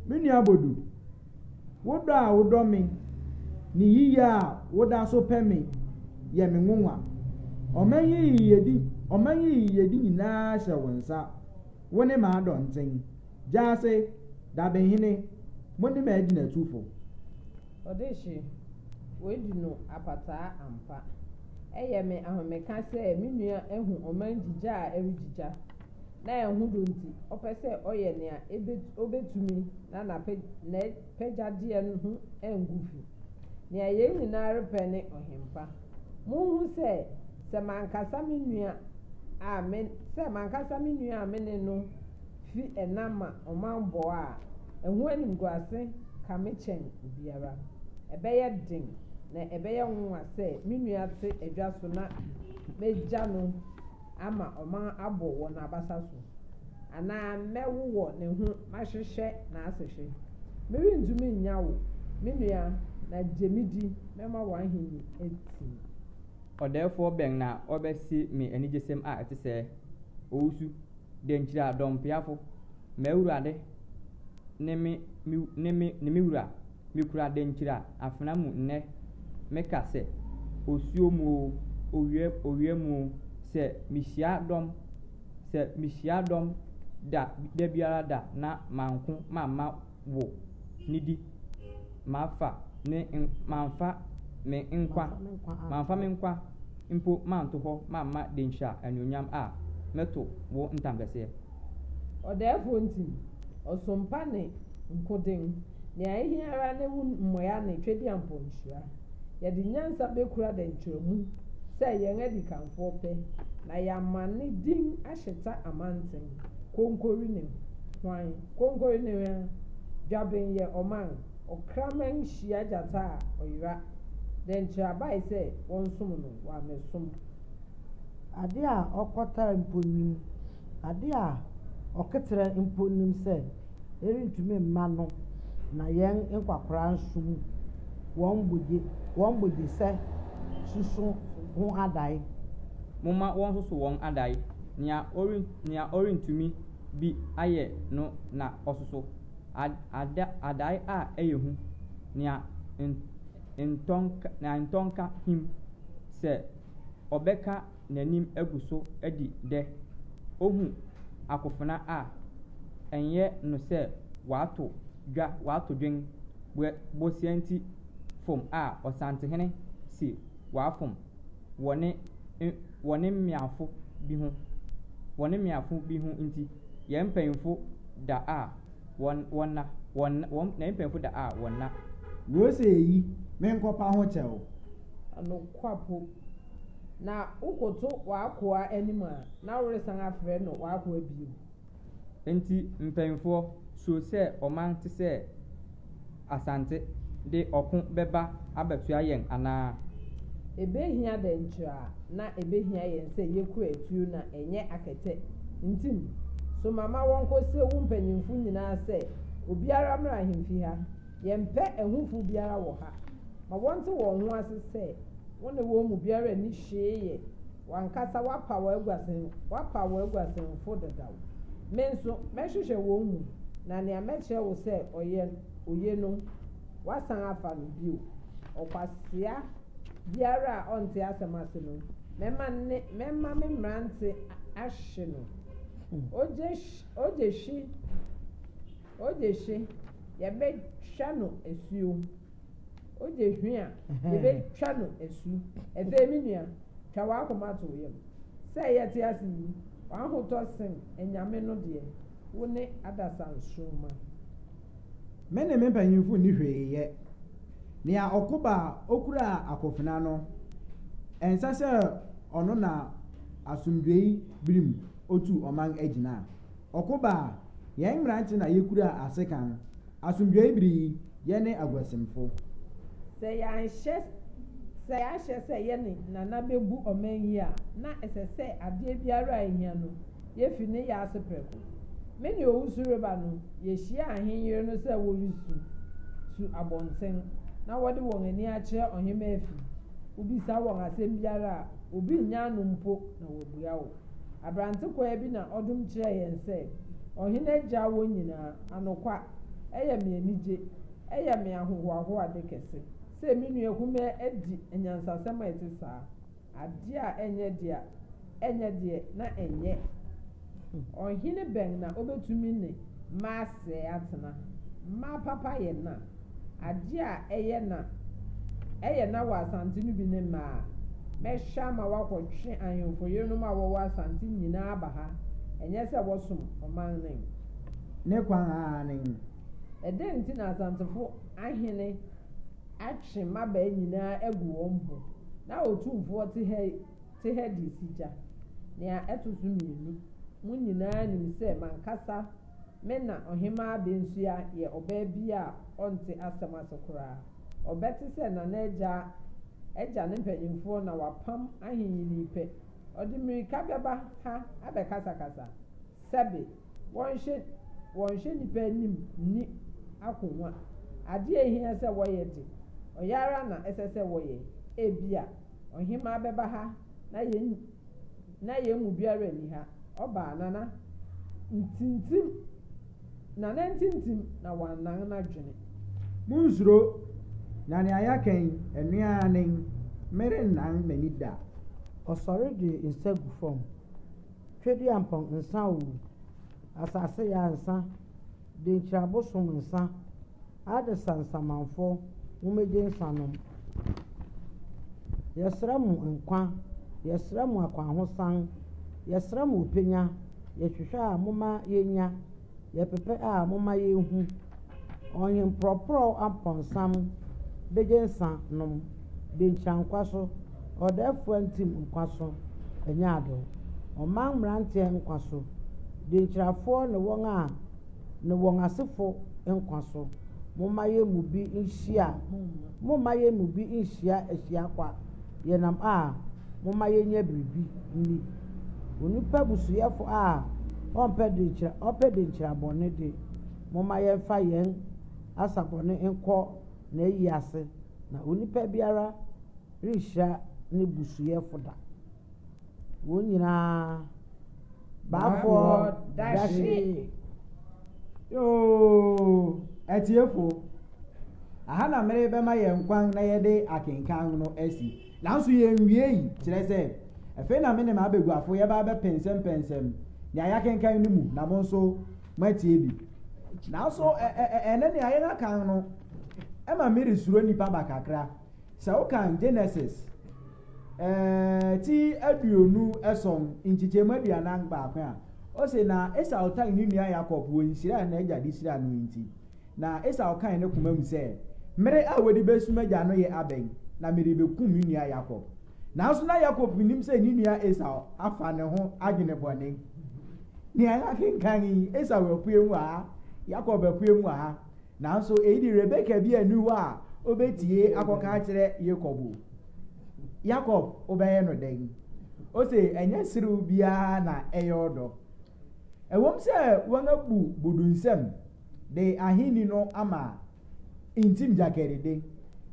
Me nua Bodu. Wo dɔ a wodɔ me ne yiye a woda so pɛ me yɛ me nwonwa. Ɔman yi yiyedi ɔman yi yiyedi nyinaa hyɛ wo nsa, wo ne m'adɔnkyen, Gyase, Dabenhene, mo ne m'agyinatufo. Ɔdehye, Woadu no apataa ampa. Ɛyɛ me ahomeka sɛ me nua ahu ɔman gyigya a ɛregyigya. na ɛho dɔ nti, ɔpɛ sɛ ɔyɛ nea obetumi na n'apɛgyadeɛ no ho angu fi. Nea yɛn nyinaa repɛ ne Ɔhempa. Munhu sɛ, sɛ m'ankasa me nua a me sɛ m'ankasa me nua a me ne no fi ɛnã ma ɔmammɔ a, ɛho animguase ka me kyɛn obiara. Ɛbɛyɛ den, na ɛbɛyɛ nwonwa sɛ me nua te adwa so na magya no ama ɔman abɔ wɔ n'abasa so, anaa mɛwowɔ ne ho mahyehyɛ n'asehwe. Merentumi nnya wo, me nua, na gye me di, mɛma w'ahenni atim. Ɔdɛɛfoɔ bɛn na ɔbɛse me anigyesɛm a ɛte sɛɛ? Owusu, dɛnkyire a, dɔmpeafo, m'awurade ne me, ne me, ne me wura! Mikura dankyira afena mu nnɛ meka sɛ, Osuo mu oo, owia owia mu oo, sɛ mihyia dɔm, sɛ mihyia dɔm da da biara da na manko mamma wo nidi mafa ne n mamfa me nkwa mamfa me nkwa mpo manto hɔ mamma dankyira anuonyam a, mɛto wo ntampɛseɛ. Ɔdɛɛfoɔ nti, ɔsom pa ne nkoden, nea ɛhia ara ne wo mmoa ne Twedeampɔ nhyira. Yɛde nyansa bɛkura dɛnkyerɛmu sɛ yɛn adikanfoɔ pɛ, na yɛama ne din ahyeta amanten, konkori ne hwan? Konkori ne hwan? Dwaben yɛ ɔman, ɔkraman hyia gyata a ɔyera, dɛnkyerɛ abae sɛ wɔnsom no, wammɛsom. Ade a ɔkɔtaa mpo nnim, ade a ɔkɛterɛ mpo nnim sɛ ɛrentumi mma no na yɛn nkwakoraa nso mu wɔn bogye wɔn bogyesɛ suso ho adae. Momma wɔnsoso wɔn adae, nea ɔren nea ɔrentumi bi ayɛ no na ɔsoso, ad ada adae a ɛyɛ hu, nea nt ntɔnka nea ntɔnka him sɛ ɔbɛka n'anim agu so adi dɛ. Ohu akofena a, ɛnyɛ no sɛ wato dwa wato dwen wɔ bosianti fom a ɔsantehene se wafom wɔ ne wɔ ne mmeafo bi ho wɔ ne mmeafo bi ho nti. Yɛn mpanyimfo da a. wɔn, wɔn nna, wɔn nna, wɔn nna, mpanyimfo da a wɔn nna. Wɔ'se eyi, menkɔpa ho kyɛw. Nokwapo, na wokoto w'akoa anim a, na woresan afrɛ no w'akoa bio. Enti mpanyimfoɔ, suro sɛ ɔman tesɛ. Asante de ɔko bɛba abɛtoa yɛn anaa? Ebehia dɛn koraa na ebehia yɛn sɛ yekura atuo na ɛnyɛ akɛtɛ? Ntim, soma ma wɔnkɔsrɛ wo mpanyimfo nyinaa sɛ obiara mmra ahemfi ha. Yɛmpɛ ahufo biara wɔ ha. Ma wɔnte wɔn ho ase sɛ wo ne wɔn mu biara nni hwee yɛ. W'ankasa woapa w'aguasen, woapa w'aguasenfo dedaw. Me nso, mɛhwehwɛ wɔn mu, na nea mɛkyerɛ wo sɛ ɔyɛ, oye no, woasan afa no bio. Ɔkwasea biara a ɔnte asɛm ase no, mɛma ne, mɛma me mmerante ahwe no. Ogye, ogye hwi, ogye hwi, yɛbɛtwa no asuo. Ogye hwe a, yebetwa no asu. Afei, me nua, twa w'akoma to wo yam. Sɛ yɛte ase yi, w'ahotɔ sen anyame no deɛ, wo ne adasansoromma. Me ne me mpanyimfo nni hwee yɛ. Nea ɔko ba a, okura akofena no, ɛnsɛ sɛ ɔno na asomdwoe bere mu otu ɔman agyina. Ɔko ba a, yɛn mmerante na yekura asekan. Asomdwoe bere yi, yɛne aguasimfo. Sɛ yɛanhyɛ sɛ yɛahyɛ sɛ yɛne Nana bebu ɔman yi a, na ɛsɛ sɛ adeɛ biara a ehia no, yefi ne yɛ ase prɛko. Me ne Owusu reba no, yehyiaa ahenyere no sɛ wɔresu su abɔnten na wɔde wɔn ani akyerɛ ɔhemmaa fi. Wobisa wɔn asɛm biara a, obi nnya ano mpo na wɔabua wo. Aberante kwaa bi na ɔdom kyerɛɛ yɛn sɛ Ɔhene Agya wɔ nyinaa. Anokwa, ɛyɛ me anigye, ɛyɛ me ahohoahoade kɛse sɛ me nua kumaa adi anyansasɛm a ɛte saa, adeɛ a ɛnyɛ deɛ ɛnyɛ deɛ na ɛnyɛ. Ɔhene bɛn na ɔbɛtumi ne. Mma asɛe atena. Mma apapa yɛ na. Adeɛ a ɛyɛ na ɛyɛ na wɔ Asante no bi ne mmaa. Mɛhwɛ ama wɔakɔtwe ahemfo yerenom a wɔwɔ Asante nyinaa aba ha, ɛnyɛ sɛ wɔsom ɔman no nko. Ne kwan ara ne he? Ɛdɛn nti na Asantefo ahene atwe mmabaa nyinaa agu wɔn ho, na Otumfoɔ te ha yi? te Hades gya. Nea ɛto so mmienu, mo nyinaa nim sɛ m'ankasa me na Ɔhemmaa Bensua yɛ ɔbaa bi a ɔnte asɛm ase koraa. Ɔbɛte sɛ Nana Agya agya ne mpanimfoɔ na wapam ahenini pɛ, ɔde mmirika bɛba ha abɛkasakasa. Sɛbe, wɔnhwɛ wɔnhwɛ nnipa anim nni akonnwa. Adeɛ a ɛhia sɛ wɔyɛ de, ɔyɛ ara na ɛsɛ sɛ wɔyɛ. Ebia. Ɔhemmaa bɛba ha, na yɛn na yɛn mu biara nni ha. Ɔbaa, Nana ntintim, Nana ntintim, na wannan n'adwene. Monnsuro, na nea yɛaka yi, ɛno ara ne, Merennan m'ani da. Ɔsɔre de nsa gu fam, Tweduampɔn, nsa oo, Asase yɛ a nsa. Denkyira abosom nsa adesa nsamanfɔ momegye nsa nom Yɛsrɛ mo nkwa yɛsrɛ mo akwanhosan yɛsrɛ mo ɔpɛnya Yɛhwehwɛ a momma yɛnya yɛpɛpɛ a momma yɛnhu Ɔhenprɔprɔw ampɔnsam begye nsa nom. Benkya nkwa so, Ɔdɛɛfoa Ntim nkwa so, Ɛnyɛ ade o, Ɔman mmeranteɛ nkwa so, Denkyirafoɔ ne wɔn a ne wɔn asefo nkwa so, Momma yɛn mu bi nhyia Momma yɛn mu bi nhyia ahyia kwa, Yɛnam a, momma yɛnyɛ biribi nni, Onipa busuyɛfo a ɔmpɛ denkyira ɔpɛ denkyira bɔne de, Momma yɛmfa yɛn asa bɔne nkɔ na ayi ase, na onipa biara renhyira ne busuafo da. Wɔn nyinaa baafɔɔ dahye. Yoo! Atiefo, aha na merebɛma yɛn kwan na yɛde akenkan no asi. Nanso yenwiei, kyerɛ sɛ, afei na me ne m'abaguafo yɛbɛba abɛpɛnsɛmpɛnsɛm nea yɛakenkan no mu na mo nso moatie bi. Nanso ɛ, ɛ, ɛ, ɛnnɛ nea yɛaka kan no ma meresuro nnipa ba kakra. Sɛ wokan Genesis, ɛ, ti aduonu ason, nkyekyɛmu aduanan baako a, ose, Na Esau tan ne nua Yakob wɔ nhyira a n'agya de hyiraa no nti. Na Esau kae ne koma mu sɛ, Mmere a wɔde besu m'agya no yɛ abɛn, na merebekum me nua Yakob. Nanso na Yakob nnim sɛ ne nua Esau afa ne ho adwene bɔne. Nea yɛakenkan yi, Esau apue mu wɔ ha, Yakob apue mu wɔ ha. Nanso eyi de Rebeka biara nni hɔ a obetie akɔka akyerɛ Yakob o. Yakob, wobɛyɛ no dɛn? Ose, Ɛnyɛ serew biara na ɛyɛ ɔdɔ. Ɛwom sɛ wɔabu bo do nsɛm, de ahenni no ama ntim gyakɛrede.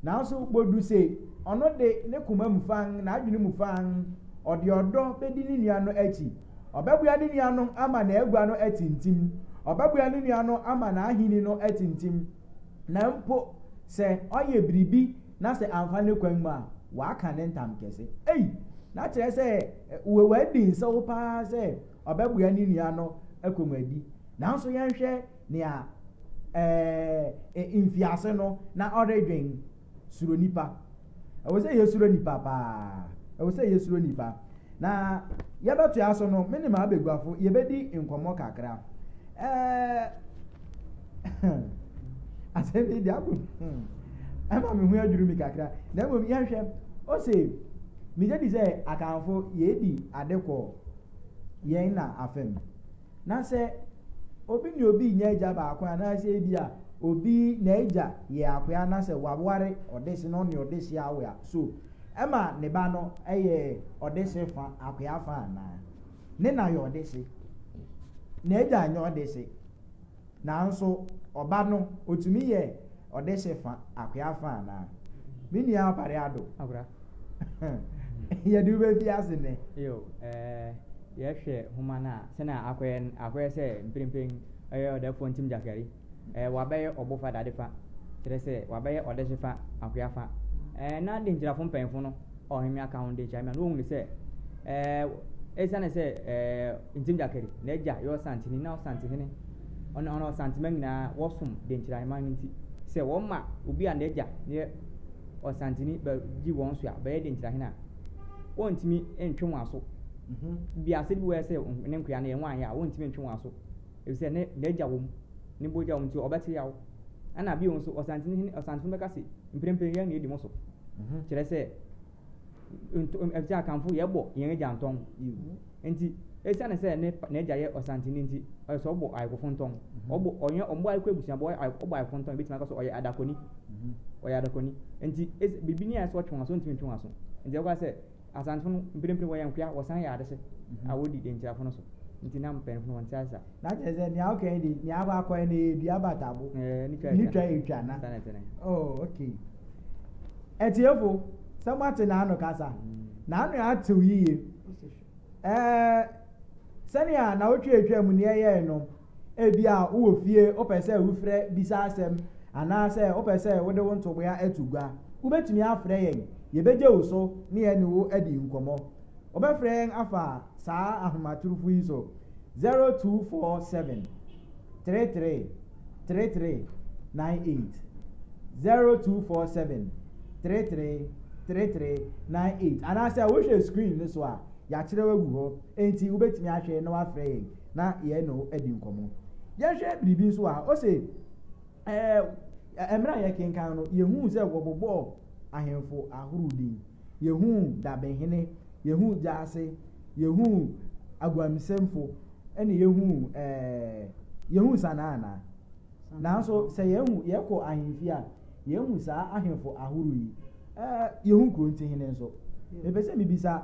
Nanso Bodu se ɔno de, ne koma mu fann, n'adwene mu fann, ɔde ɔdɔ bedi ne nua no akyi. Ɔbɛboa ne nua no ama n'agua no atintim. Ɔbɛboa ne nua no ama n'ahenni no atintim, na mpo sɛ ɔyɛ biribi na sɛ amfa ne kwan mu a, waka ne ntam kɛse. Ei! Na kyerɛ sɛ wadi nsew paa sɛ ɔbɛboa ne nua no kɔnmuadi. Nanso yɛnhwɛ nea ɛɛ mfiase no na ɔredwen suro nipa. Ɛwɔ sɛ yɛsuro nipa paa. Ɛwɔ sɛ yɛsuro nipa. Na yɛbɛtoa so no, me ne m'abaguafo yɛbɛdi nkɔmmɔ kakra. Ɛɛ asɛm yi de abu hmm, ɛma me ho adwiri mi kakra. Na mmom yɛnhwɛ, ose megye di sɛ akanfo yɛdi ade kɔ yɛn na afa mu. Na sɛ obi ne obi nyɛ agya baako anaasɛ ebi a obi n'agya yɛ akoa na sɛ waware ɔdese na ɔne ɔdese awo a, so ɛma ne ba no yɛ ɔdese fa akoa fa anaa? Ne na yɛ ɔdese, n'agya nyɛ ɔdese. Nanso ɔba no, otumi yɛ ɔdehye fa akoa fa anaa? Me nua Opare Addo, yɛde wo befi ase nnɛ. Yiw, eh, yɛhwɛ nhoma no a, sɛnea akɔyɛ no, akɔyɛ sɛ mprempren ɔyɛ ɔdɛfoɔ Ntim Jaskari. Eh, wabɛyɛ ɔbo fa dade fa, kyerɛ sɛ, wabɛyɛ ɔdehye fa akoa fa. Eh, na Denkyirafo mpanyimfo no ɔhemmea ka ho de kyerɛ me a, na ohunu sɛ esiane sɛ Ntim Gyakɛre, n'agya yɛ Ɔsantehene, na Ɔsantehene ɔne ɔne Ɔsantema nyinaa wɔsom de nkyerɛ ahemman no nti, sɛ wɔma obi a n'agya yɛ Ɔsantehene ba gye wɔn so a, bɛyɛ de nkyerɛ ahene a, wɔntumi ntwe wɔn aso. Mhm. Bi asɛde bi wɔyɛ sɛ ne nkoa no yɛ wɔn anyɛ a, wɔntumi ntwe wɔn aso. Efisɛ ne n'agya wɔ mu, ne bogya wɔ mu nti ɔbɛte yaw. Ɛna bio nso, Ɔsantehene Ɔsantehene bɛka se, Mprempren yɛn na edi mo so. Mhm. Kyerɛ sɛ, nto- ɛm, ɛsɛ akanfo yɛbɔ yɛn agya ntɔn. Yiw. Enti, esiane sɛ ne pa- n'agya yɛ ɔsanteni nti, ɛsɛ sɛ ɔbɔ ayekofo ntɔn. Mhm. Ɔbɔ, ɔnyɛ, ɔmmɔ ayeko abusuabɔ, ɔyɛ aye- ɔbɔ ayekofo ntɔn. Ebetumi aka sɛ ɔyɛ adakɔni. Mhm. Ɔyɛ adakɔni. Enti, es- biribi ni a ɛsɛ sɛ ɔtwe wɔn aso, ontumi ntwe wɔn aso. Enti ɛbɛba sɛ, Asantefo no mprempren wɔyɛ nkoa, wɔsan yɛ adehye a wodi Denkyirafo no so, nti na mpanyimfo no wɔnte ase saa. Na kyerɛ sɛ nea ɔka yi de nea aba akɔ yi na ɛyɛ dua abatabo eh, ne twa etwa na oh okay atiefo sɛ moate n'ano kasa mm. n'ano atew yiye ɛɛ eh, sɛnea na wotwa etwa mu nea ɛyɛe no Ebia wowɔ fie, wopɛ sɛ wofrɛ bisa asɛm, anaasɛ wopɛ sɛ wode wo ntoboa to gua. Wubetumi afrɛ yɛn. Yebegye wo so na yɛne wo adi nkɔmmɔ. Wɔbɛfrɛ yɛn afa saa ahomatorofo yi so, 0247 33 33 98, 0247 33 33 98, anaasɛ wohwɛ screen no so a, yɛakyerɛw agu hɔ, enti wubetumi ahwɛ na woafrɛ yɛn. na yɛne wo adi nkɔmmɔ. Yɛnhwɛ biribi nso a ose, ɛɛ, mmerɛ a yɛkenkan no, yɛhuu sɛ wɔbobɔɔ ahemfo ahorow din. Yɛhuu dabehene, yɛhuu gyaase, yɛhuu aguamsɛmfo, ɛne yɛhuu, ɛɛ, yɛhuu sanaa anaa? Nanso sɛ yɛhu, yɛkɔ ahemfie a, yɛhu saa ahemfo ahorow yi. Ɛɛ, yɛhu kurontihene nso. Mepɛ sɛ mebisa,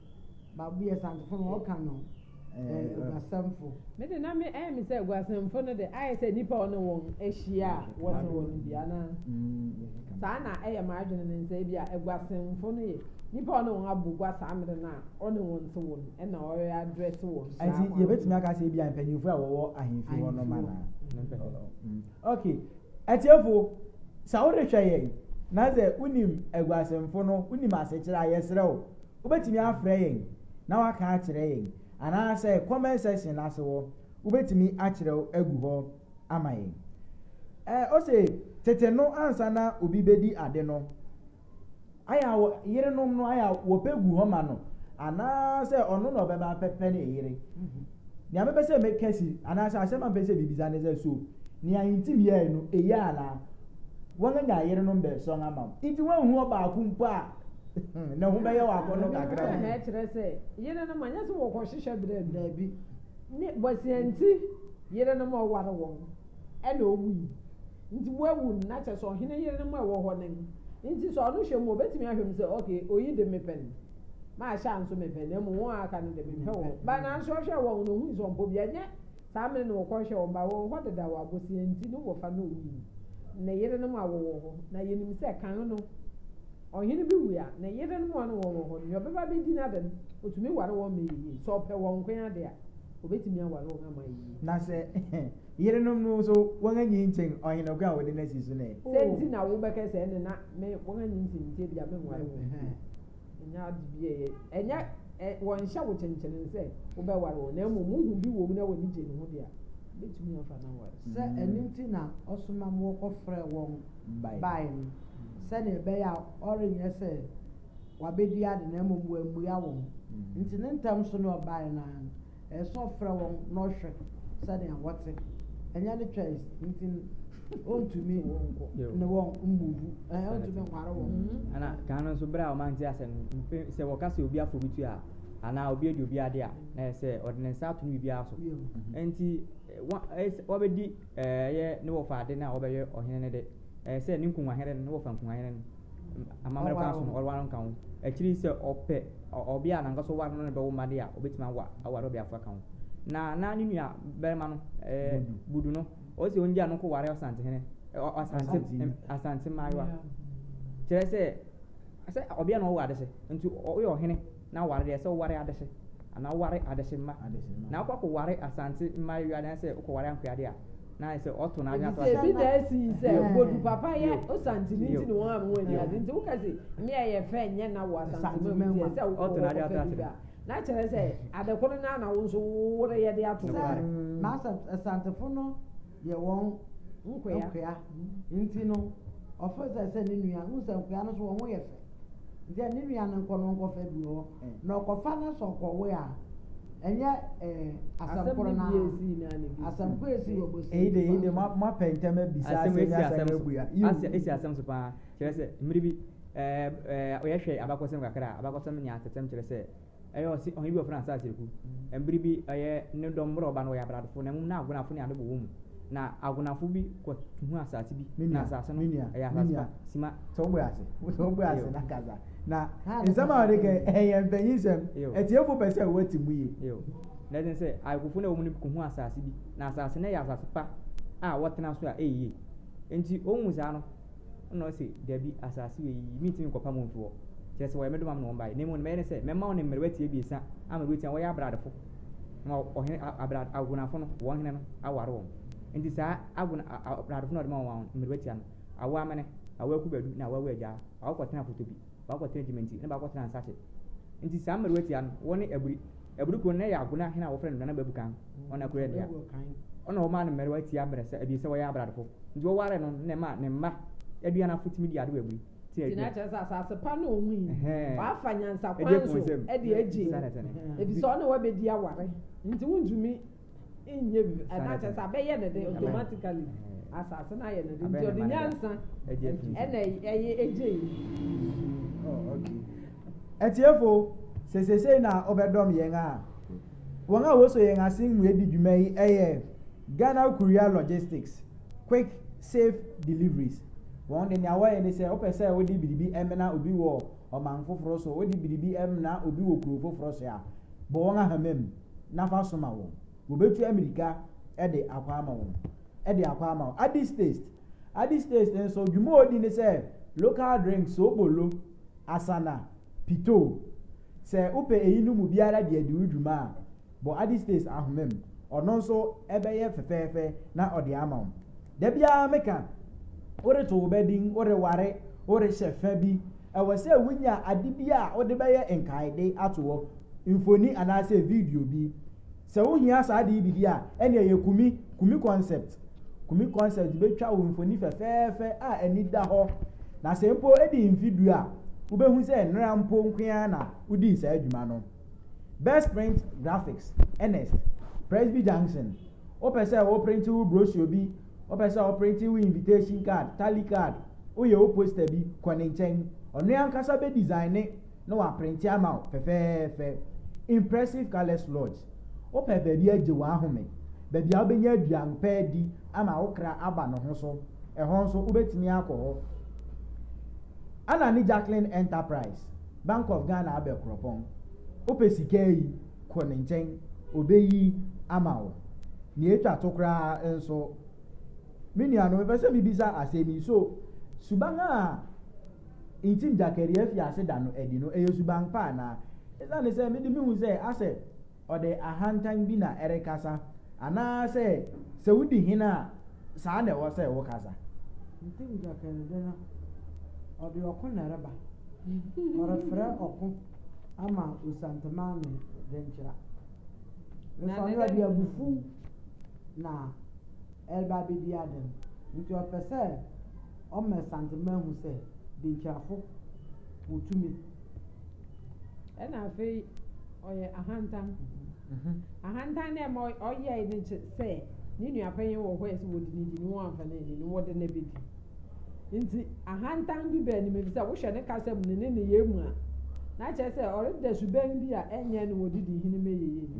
Baabo yɛ Asantefo no ɔka no ɛ Oguasɛmfo. Me de na me ɛyɛ me sɛ Oguasɛmfo no de ayɛ sɛ nnipa a ɔne wɔn ahyia a wɔte hɔ no bi anaa? Saa na ɛyɛ m'adwene ne sɛ ebia Aguasɛmfo no yɛ nnipa a ɔne wɔn abɔ gua saa mmere no a ɔne wɔn te hɔ no ɛna ɔre address wɔn saa kwan no so. Ɛnti yɛbɛtumi aka sɛ ebia mpanyimfo a wɔwɔ ahemfie hɔ nom anaa? Ok atiefo sa wo rehwɛ yɛn na sɛ wo nim aguasemfo no wo nim asekyerɛ a yɛsrɛ wo wo bɛtumi afrɛ yɛn na waka akyerɛ yɛn anaa sɛ comment section no ase hɔ wo bɛtumi akyerɛw agu hɔ ama yɛn eh ose tete no ansa na obi bɛdi ade no ayɛ a wɔ yerenom no ayɛ a wɔpɛ gu hɔ ma no anaasɛ ɔno na ɔbɛba abɛpɛ ne yere mhm. nea mepɛ sɛ meka si anaasɛ asɛm a mepɛ sɛ bibisa ne sɛ so nea ntim yɛe no eye anaa wɔanya yerenom bɛsɔn ama wo nti woanhu ɔbaako mpo a na ho bɛyɛ wɔ akɔnnɔ kakra mu. na ɛkyerɛ sɛ yere no ma nyɛ sɛ wɔkɔhwehwɛ berɛ no daabi ne bɔseɛ nti yere no ma ɔware wɔn ɛna ɔwui Nti wawu no, na kyerɛ sɛ ɔhene yerenom a ɛwɔ hɔ no no nti sɛ ɔno hwɛ mu a, ɔbɛtumi ahwɛ mu sɛ, Okay, oyi de mepɛ no, mahyɛ anso mepɛ no, na mmom wɔn a aka no deɛ mempɛ wɔn. But nanso ɔhwɛɛ wɔn na ɔhui sɛ ɔmpɛ obiara. Nyɛ saa mmere na ɔkɔhwɛɛ wɔn, but wɔwɔ hɔ dedaw a bosea nti ne wɔfa no wui no. Ne yerenom a wɔwɔ hɔ, na yɛnim sɛ kan no, ɔhene bi wu a, ne yerenom a ɔne wɔn wɔ hɔ no, nea ɔbɛba abɛdi n'ade no, ɔtumi ware wɔn ma ɛyɛ yie. Sɛ ɔpɛ wɔn nko ara de a, ɔbɛtumi aware wɔn ama ayɛ yie. Na sɛ Yerenom no so wɔn anyi nkyen ɔhene ko a wɔde no asi so no ɛ? Sɛ nti na wo bɛkɛ sɛ ɛne na me wɔn anyi nkyen nti ebia me nware wɔn bio. Ɛnyɛ ade bi a ɛyɛ, ɛnyɛ ɛ, wɔn nhyɛ wo kyenkyenen sɛ wo bɛ ware wɔn, na mmom wo hu bi wɔ mu na w'ani gye ne ho de a, wo bɛtumi afa no aware. Sɛ ɛno nti na ɔsoma mo kɔ frɛ wɔn bae no, sɛnea ɛbɛyɛ a ɔrenyɛ sɛ wabɛdi ade na mmom wammua wɔn nti ne ntɛm so na ɔbae no ara no, Ɛyɛ sɛ ɔfrɛ wɔn na ɔhwɛ sɛnea wɔte, ɛnyɛ ne choice nti no, ɔntumi ne wɔn mmuvu, ɛɛ ɔntumi nware wɔn. Mm-hmm. Ɛna kan no nso bere a wɔn ante ase no, sɛ wɔka sɛ obi afɔ bi tu a, anaa obi adi obi ade a, na ɛyɛ sɛ ɔde ne nsa ato no biribiara so. Mm-hmm. Nti wɔbɛdi ɛyɛ ne wɔfa ade no a wɔbɛyɛ ɔhene no de, ɛyɛ sɛ ne nkunwahene no ne wɔfa nkunwahene no. amammerɛ kwan so no, ɔreware no nka ho. Akyiri yi sɛ ɔpɛ ɔbea a n'ankasa ɔware no na bɛwo mma de a, obetumi awa aware ɔbea foforo aka ho. Na na ne nua barima no, ɛɛ Budu no, ɔsɛ ongyaa no nkɔware Ɔsantehene, ɔ Asante Asante mmaayewa. Kyerɛ sɛ, sɛ ɔbea na ɔwɔ adehye, nti ɔyɛ ɔhene. na ware deɛ sɛ woware adehye anaa woware adehye mma na wokɔ kɔ ware asante mma awia dan sɛ wokɔ ware ankoya deɛ a na ayɛ sɛ ɔto n'adwene ato ase. ebi na esi yi sɛ bodu papa yɛ osante ne nti na wɔn a wɔn ani ade nti woka sɛ mmea yɛ fɛ nyɛ na wɔ asante mɛ mu sɛ wokɔ wɔ kɔ fɛ bi a na kyerɛ sɛ adekoro na na wo nso wowore yɛ de ato. sɛ na asantefo no. yɛ wɔn nkoa nti no, ɔfeel sɛ sɛ ne nua, wohu sɛ nkoa no so wɔn ho yɛ fɛ, nti sɛ ne nua no nkɔ no ɔnkɔfa bi wɔ hɔ, na ɔkɔfa no sɛ ɔkɔwe a, ɛnyɛ ɛɛ asɛm koro no ara, asɛm koro esi wɔ bosia Eyi de, eyi de, mo mo apɛ ntɛm abisa asɛm asɛm yi esi asɛm asɛm so abua. Yiw. asɛ esi asɛm so paa kyerɛ sɛ mmere bi ɛɛ ɛɛ yɛhwɛ abakɔsɛm kakra a abakɔsɛm ne atɛtɛm kyerɛ sɛ Ɛyɛ ɔse ɔhen bi wɔ France a sereku. Mbere bi ɔyɛ no dɔm mber a ɔba no wɔyɛ abradofo na mbom na agonafo ne adɔbɔ wɔ mu. Na agonafo bi kɔ tuhu asaase bi na asaase no yɛ asaase pa sima. Sɛ wo bɔ ase sɛ wo bɔ ase na kasa na nsɛm a ɔde ka yi ɛyɛ mpanyin nsɛm atiefo pɛ sɛ wɔte mu yie. Yoo. Na ɛden sɛ ayekofo no a ɛwɔ mu no bi kɔ hu asaase bi na asaase no yɛ asaase pa a wɔtena so a ɛyɛ yie. Nti ohu saa no. Ɛnna ɔse, Dabi, asase wei, merentumi nkɔpam wɔn mfi hɔ. Kyerɛ sɛ, wɔyɛ me domam na wɔbaeɛ. Na mmom deɛ mɛyɛ ne sɛ, mɛma wo ne mmerewa ti abiɛsa a mabue atia wɔn, wɔyɛ abradefo, na ma ɔhene, abrad, ahunafo no, wɔn hene no, aware wɔn. Enti saa ahuna, abradefo no a ɔde ma wɔn mmerewa tia no, awo amene, awo akuba du, na awo awu agyaa. Baako kɔtenaa foto bi, baako kɔtenaa gyimanti, na baako kɔtenaa nsakye. Enti saa mmerewa tia no, wɔne aburi, Aburi kurow no, na ɛyɛ Agona hene a wɔfrɛ no Nana Babukan Onakorɛ dea. Ɔna wɔmaa no mmariwa ti abrɛsa abien sɛ wɔyɛ abradofo. Nti wɔwaree no no na ɛmaa ne mma aduanafo tumi dii ade wɔ aburi te Nti na aduan. kyerɛ sɛ asase pa no a ohui no, Ɛhɛɛ. wafa nyansa Edi kwan afuw so nsam. de agye. Saa na ɛte no. Efisɛ ɔne wo abedi aware, nti wuntumi. nyɛ bi ɛna kyɛ sɛ abɛyɛ ne de automatically asase no ayɛ ne de nti ɔde nyansa ɛna ɛyɛ ɛgye yi. Atiefo sɛ sesei na ɔbɛdɔm yɛn a wɔn a wɔsɔ yɛn ase mu edi dwuma yi ɛyɛ Ghana Courier Logistics Quick Safe Deliveries wɔn de nea wɔyɛ ne sɛ wopɛ sɛ wode biribi ɛmena obi wɔ ɔman foforɔ so wode biribi ɛmena obi wɔ kuro foforɔ so a bɔ wɔn ahama mu. na fa so ma wɔn. Wɔbɛtu ammirika de akɔ ama wɔn, de akɔ ama wɔn. Addis Taste. Addis Taste nso, dwuma a ɔdi ne sɛ local drink, soobolo, asana, pitoo. Sɛ wopɛ eyinom mu biara bi adi wo dwuma a, bɔ Addis Taste ahoma mu. Ɔno nso bɛyɛ fɛfɛɛfɛ na ɔde ama wo. Da biara meka, woreto wo ba din, woreware, worehyɛ fã bi, ɛwɔ sɛ wunya ade bi a wode bɛyɛ nkaede ato hɔ, mfoni anaasɛ video bi. Sɛ wuhia saa ade yi bi di a, ɛnneɛ yɛ Kumi, Kumi Concept. Kumi Concept betwa wo mfoni fɛfɛɛfɛ a ani da hɔ, na sɛ mpo edi mfe du a, wubehu sɛ nnɛra mpo nko ara na wudii saa dwuma no. Best Print Graphics, Ernest, Presby Junction, Wopɛ sɛ woprente wo brochure bi Ɔpɛ sɛ ɔprente wo invitation card, tally card, woyɛ wo poster bi, kɔ ne nkyɛn. Ɔno ankasa bɛ design na waprente ama wo fɛfɛɛfɛ. Impressive Colours Lodge, Wopɛ baabi agye w'ahome, baabi a wobɛnya aduan pa adi ama wo kra aba ne ho so, ɛhɔ nso wobɛtumi akɔ hɔ. Anna ne Jacqueline Enterprise, Bank of Ghana abɛkorɔpɔn. Wopɛ sika ayi. Kɔ ne nkyɛn, obeyi ama wo. Nea etwa to koraa nso, me nuanom, mepɛ sɛ mibisa asɛm yi, So suban a nkyim gyakari afi ase da no adi no, ɛyɛ suban pa anaa? Esiane sɛ mede mihu sɛ asɛ ɔde ahantan bi na ɛrekasa, anaasɛ sɛ wudi hene a, saa na ɛwɔ sɛ wokasa? Nkyim gyakari de no, ɔde ɔko na ɛreba. Ɔrefrɛ ɔko. ama Osanteman ne Denkyira. Mfa no ɔde abufuw na ɛreba abedi ade no, nti ɔpɛ sɛ ɔma Santeman hu sɛ Denkyirafo wɔ tumi. Ɛnna afei ɔyɛ ahantan. Ahantan na ɛma ɔyɛe no kyɛ sɛ ne nuapanyin wɔ hɔ a ɛsɛ sɛ wɔdi no di na wɔamfa no anni no, wɔde no abedi. Enti ahantan bi ba anim efisɛ wohwɛ ne kasa mu ne ne nneyɛe mu a, na kyerɛ sɛ ɔreda suban bi a ɛnyɛ ne wɔde di hene ma yiye no.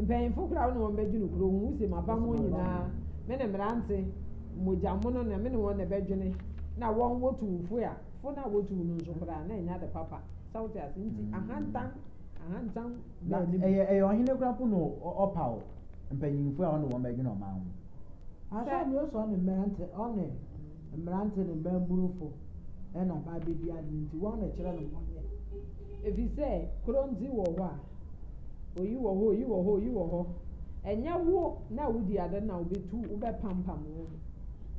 Mpanyimfo koraa wo ne wɔn bɛdwene kuro ho, wuse mabammɔ wɔn nyinaa, me ne mmerante, mogyamono na me ne wɔn na ɛbɛdwene, na wɔn wotu wo fo a, fo no a wotu wo no nso koraa na ɛnyɛ ade papa. Sɛ wote ase nti ahantan, ahantan. na ɛyɛ ɛyɛ ɔhene kura po na ɔpaw mpanyinfo a ɔne wɔn bɛdwene ɔman ho. Asɔre no sɔ ne mmerante ɔne mmerante ne mmabunufo ɛna ba abɛdi ade no nti wɔn na ɛkyerɛ no bɔnyɛ. Efi sɛ korɔndzi wɔ hɔ a, oyi wɔ hɔ, oyi wɔ hɔ, oyi wɔ hɔ. Ɛnyɛ wo na wodi ade na wobɛtu wobɛpampam wo ho.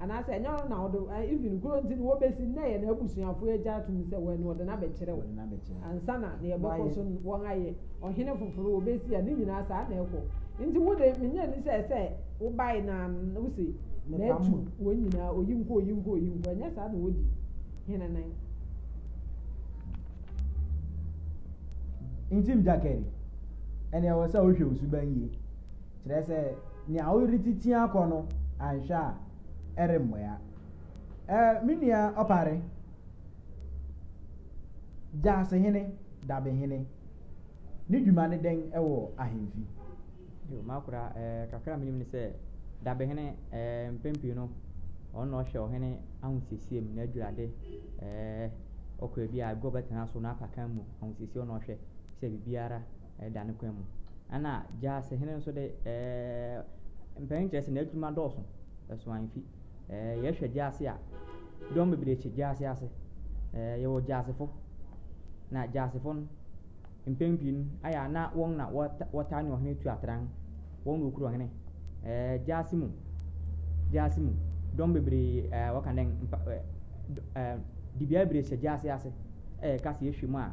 anaasɛ ɛnyɛ ɔno na ɔde eh, even kuro nti no wɔbɛsi nnɛ yɛ n'abusuafoɔ agya atom sɛ wɔn ɔde no abɛkyerɛw ansa na na yɛbɛkɔ so wɔn ayɛ ɔhene foforo wɔbɛsi a ne nyinaa saa na ɛkɔ nti wo de menyɛ ni sɛ sɛ wobae na wosi n'atu wɔn nyinaa oyi nkɔ oyi nkɔ oyi nkɔ ɛnyɛ saa na wɔdi hene nan nti mjakɛri ɛnna ɛwɔ sɛ wohwɛ wo suban yie Kyerɛ sɛ, nea woretiti akɔ no, anhwɛ a, ɛremmoa. Eh, me nua Opare, Gyaasehene Dabehene, ne dwuma ne dɛn wɔ ahemfi? Yo, m'akora, eh, kakra a menim ne sɛ, Dabehene, eh, mpɛn pii no, ɔno na ɔhwɛ ɔhene ahosiesie mu, n'adwurade, eh, ɔkɔ baabi a, agua a ɔbɛtena so, n'apakan mu ahosiesie, ɔno na ɔhwɛ sɛ biribiara da no kwan mu. Ɛnna gyaase hene nso de, ɛɛ mpanyin kyerɛ sɛ n'adwuma dɔɔso, ɛso amfi. Ɛɛ yɛhwɛ gyaase a, dɔm bebree kye gyaase ase. Ɛɛ yɛwɔ gyaasefo, na gyaasefo no, mpɛn pii no, ayɛ a na wɔn na wɔta wɔtaa ne ɔhene tu atran. Wɔn na wɔkura ɔhene. Ɛɛ gyaase mu, gyaase mu, dɔm bebree, ɛɛ wɔka dɛn, mpa ɛɛ ɛɛ dibea bebree hyɛ gyaase ase. Ɛɛ ka sɛ yɛhwɛ mu a,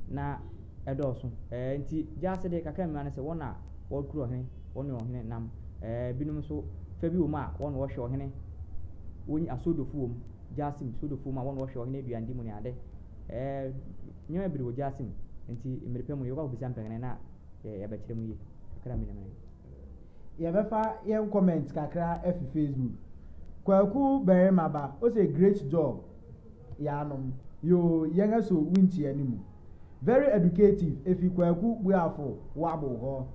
na. dɔɔso. Enti gyaase de kakra mmira no sɛ wɔn na wɔkura ɔhene, wɔne ɔhene nam. Binom nso fa bi wɔ mu a wɔn na wɔhwɛ ɔhene, wɔn asoodofo wɔ mu, gyaase mu soodofo wɔ mu a wɔn na wɔhwɛ ɔhene aduandi mu ne ade. Nneɛma bebree wɔ gyaase mu, enti mmere pa mu no yɛbɛkɔ akɔbisa mpɛnkɛnɛ na yɛabɛkyerɛ mu yie kakra mmienu mmienu. Yɛbɛfa yɛn comment kakra afi Facebook. Kwaku Barima ba ose great job. Yaanom yoo yɛn aso winkyia no mu. Very educative efi Kwaku Buafo Wabow hɔ.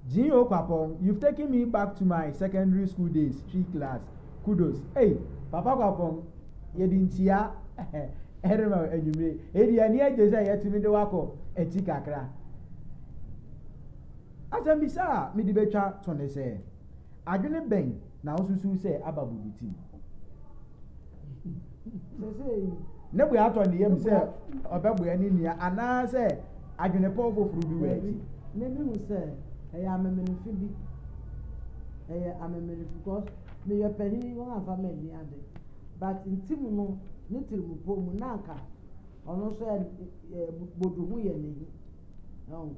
Jean Okwapong you've taken me back to my secondary school days twi class kudos ei papa Kwapong yɛde nkyia ɛrema wo anwummere ei deɛ ani agye sɛ yɛtumi de wakɔ akyi kakra. Asɛmbisa a mede betwa to ne sɛ adwene bɛn Na wosusuw sɛ aba bubutim. Ne bo atɔ ne yam sɛ ɔbɛboa ne nua anaasɛ adwenepɔw foforo bi wɔ akyi. Mimi hu sɛ ɛyɛ amemenemfe bi. Ɛyɛ amemenemfe because meyɛ panyin yi wɔn amfa me nni ade but ntim no ne tirimupɔ mu na anka ɔno nso ɛ ɛ bodu ho yɛ n'ahi. Ɛho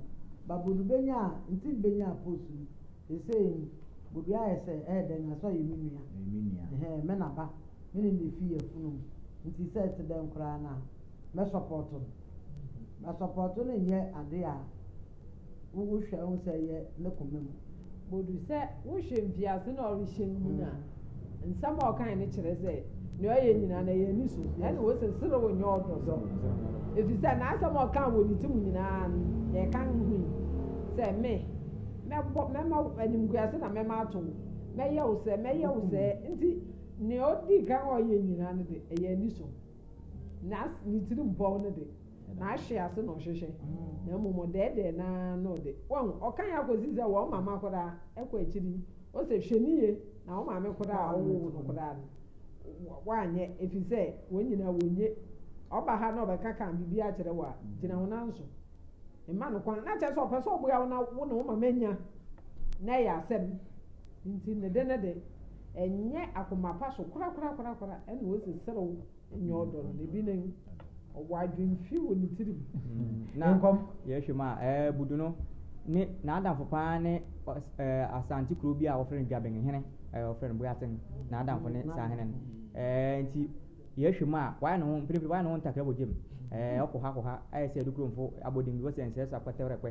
ba bodu benya a ntim benya post no Seesei yi, Bobi ayɛ sɛ, Ɛyɛ dɛn, Asɔ yɛ me nua? Ɔyɛ me nua. Ɛhɛɛ, me na ba. Me ne no na efi yafunum. Nti sɛ ɛte dɛn koraa no a, mɛsɔpɔɔto no. Asɔpɔɔto no nyɛ ade a wohwɛ hu sɛ ɛyɛ ne koma mu. Bodu sɛ wohwɛ mfiase na ɔrehyɛ nnyina a. Nsɛm a ɔkae no kyerɛ sɛ nea ɔyɛ nyinaa no ɛyɛ aniso. Ɛnna wose serew nyɛ ɔdɔ so, efisɛ n'asɛm a ɔkaa wɔ ne ti mu nyinaa no, nea ɛka ho yi, sɛ, Me, mɛbɔ, mɛma wo animguase na mɛma ato wo, mɛyɛ wo sɛ, mɛyɛ wo sɛ. Nti nea odi kan a ɔyɛ nyinaa no de, ɛyɛ aniso. Na ne tirim pɔw no de, Na ahwe ase na ɔhwehwɛ, na mmom ɔdɛɛdɛɛ no ara na ɔde. Wahu? Ɔkan ara kɔsi sɛ wɔn mama koraa kɔ akyiri yi, ose, Hwɛ no yiye, na wo maame koraa a ɔwoo wo no koraa no, woanyɛ, efisɛ wɔn nyinaa wonnye. Ɔba ha na ɔbɛkaka biribi akyerɛ wo a, gyina wo nan so. Mma no kwan. Na kyerɛ sɛ ɔpɛ sɛ ɔboa wo na wo ne wo mama nya, na ɛyɛ asɛm. Enti ne de ne de, ɛnyɛ akoma pa so korakorakorakora na ose, Serew. nyɛ ɔdɔ no na ebi ne ɔwɔ adwene fi wɔ ne tirim mm. na nkɔm yɛhwɛ mu a ɛɛ eh, budu no ne n'adamfo paa ne ɛɛ eh, asante kuro bi a wɔfrɛ no dwabɛn hene ɛɛ eh, wɔfrɛ no boyaten n'adamfo ne saa hene no ɛɛ nti yɛhwɛ mu a wɔayɛ ne ho mprempren wɔayɛ ne ho ntakra wɔ gyem ɛɛ ɔkɔ ha kɔ ha ayɛ sɛ adukuromfo abɔden bi wɔsɛ nsɛsɛ akɔtɛwrɛkpɛ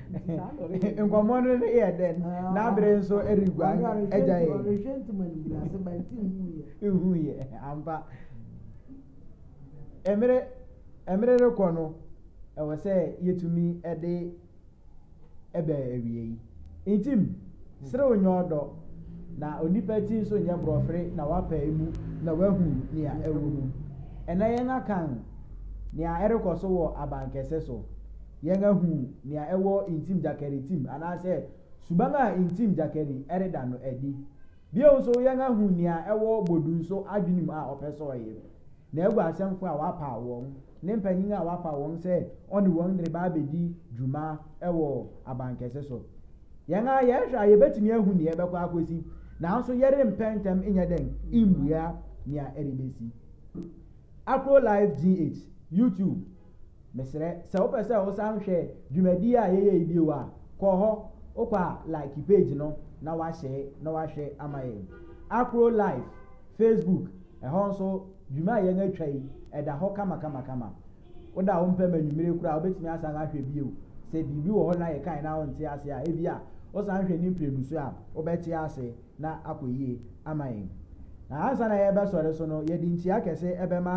nkɔmmɔ no ne yɛ dɛn n'abere nso reguan agya yɛ ehu yɛ ampa mmere mmere rekɔ no ɛwɔ sɛ yɛtumi de ɛbɛ awie yi ntim serew nyɛ ɔdɔ na onipa ti nso nyɛ borɔfere na wapa emu na wahu nea ɛwɔ mu ɛna yɛn akan nea ɛrekɔ so wɔ abankɛse so yɛahu nea ɛwɔ ntim gyakɛre tim anaasɛ suban a ntim gyakɛre reda no adi. Bio nso, yɛahu nea ɛwɔ Bodunso adwene mu a ɔpɛ sɛ ɔyɛ, na agu asɛmfo a wapaw wɔn, ne mpanyin a wapaw wɔn sɛ ɔne wɔn reba abedi dwuma wɔ abankɛse so. Yɛn ara yɛhwɛ a, yebetumi ahu nea ɛbɛkɔ akosi, nanso yɛrempɛ ntɛm nyɛ dɛn mmua nea ɛrebesi. Afro Life GH, YouTube. Mesrɛ, sɛ wopɛ sɛ wosan hwɛ dwumadie a yɛyɛ yi bio a, kɔ hɔ, wokɔ a like page no na wahyɛe na wahwɛ ama yɛn. Afro Life, Facebook, ɛhɔ nso dwuma a yɛn atwa yi, ɛda hɔ kamakamakama. Woda wo mpam anwummere koraa a, wobɛtumi asan ahwɛ bio. Sɛ biribi wɔ hɔ na yɛkae na wonte ase a, ebia wosan hwɛ ne mprenu so a, wobɛte ase. na akɔ yie ama yɛn. Na ansa na yɛrebɛsɔre so no, yɛde nkyia kɛse bɛma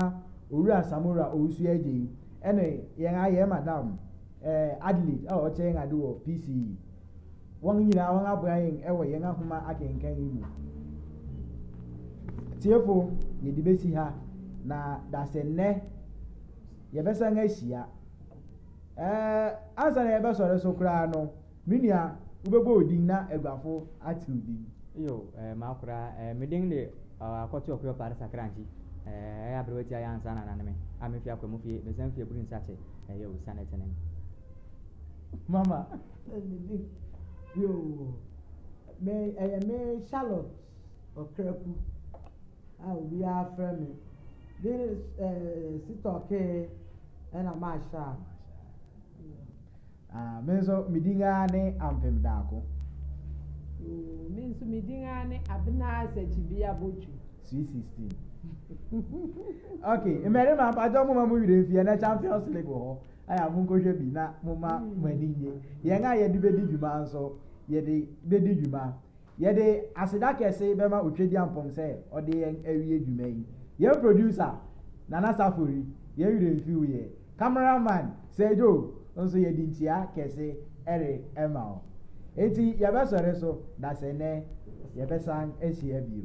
Owura Samora Owusu-Adjei ne yɛn ara yɛn Madam Adelaide a ɔkyɛ yɛn ade wɔ PCE. Wɔn nyinaa wɔaboa yɛn wɔ yɛn ahoma akenkan yi mu. Atiefo, yɛde bɛsi ha, na dasɛ nnɛ yɛbɛsan ahyia. Ɛɛ, ansa na yɛbɛsɔre so koraa no, Me nua, wobɛbɔ wo din na aguafo ate wo din. Iyo, ɛɛ, m'akora, ɛɛ, me din de, ɔɔ, Akɔto Ɔkoyɔ Parsa Kranji, ɛɛ, ɛyɛ aberewa tiaa yi ansa na anane me, a me fi Akwaamu fie, me san fi Aburi Nsakye, ɛyɛ o, Sane Tenen. Mama, ɛɛ, me din, yoo, me, ɛyɛ me Charlotte Ɔkraku, a obiara frɛ me, me, ɛɛ, Sitɔkee, ɛna Marshall. Ah, me nso me din ara ne Ampem Daako. Oo, me nso me din ara ne Abena Asakyibea Botwu. Sweet sixteen. Okay, mmarima mpatsɔ mo ma mo werɛ mfie na Champions League wɔ hɔ. Aya mo nkɔhwɛ bi na mo ma mo ani nye. Yɛn a yɛde bedi dwuma nso yɛde bedi dwuma. Yɛde aseda kɛse bɛma Otwedeampɔm sɛ ɔde yɛn awie dwuma yi. Yɛn producer, Nana Safori, yɛn werɛ mfi wo yɛ. Camera man, Sergio, nso yɛde nkyia kɛse rema wo. Enti yɛbɛsɔre so na sɛ nnɛ yɛbɛsan ahyia bio.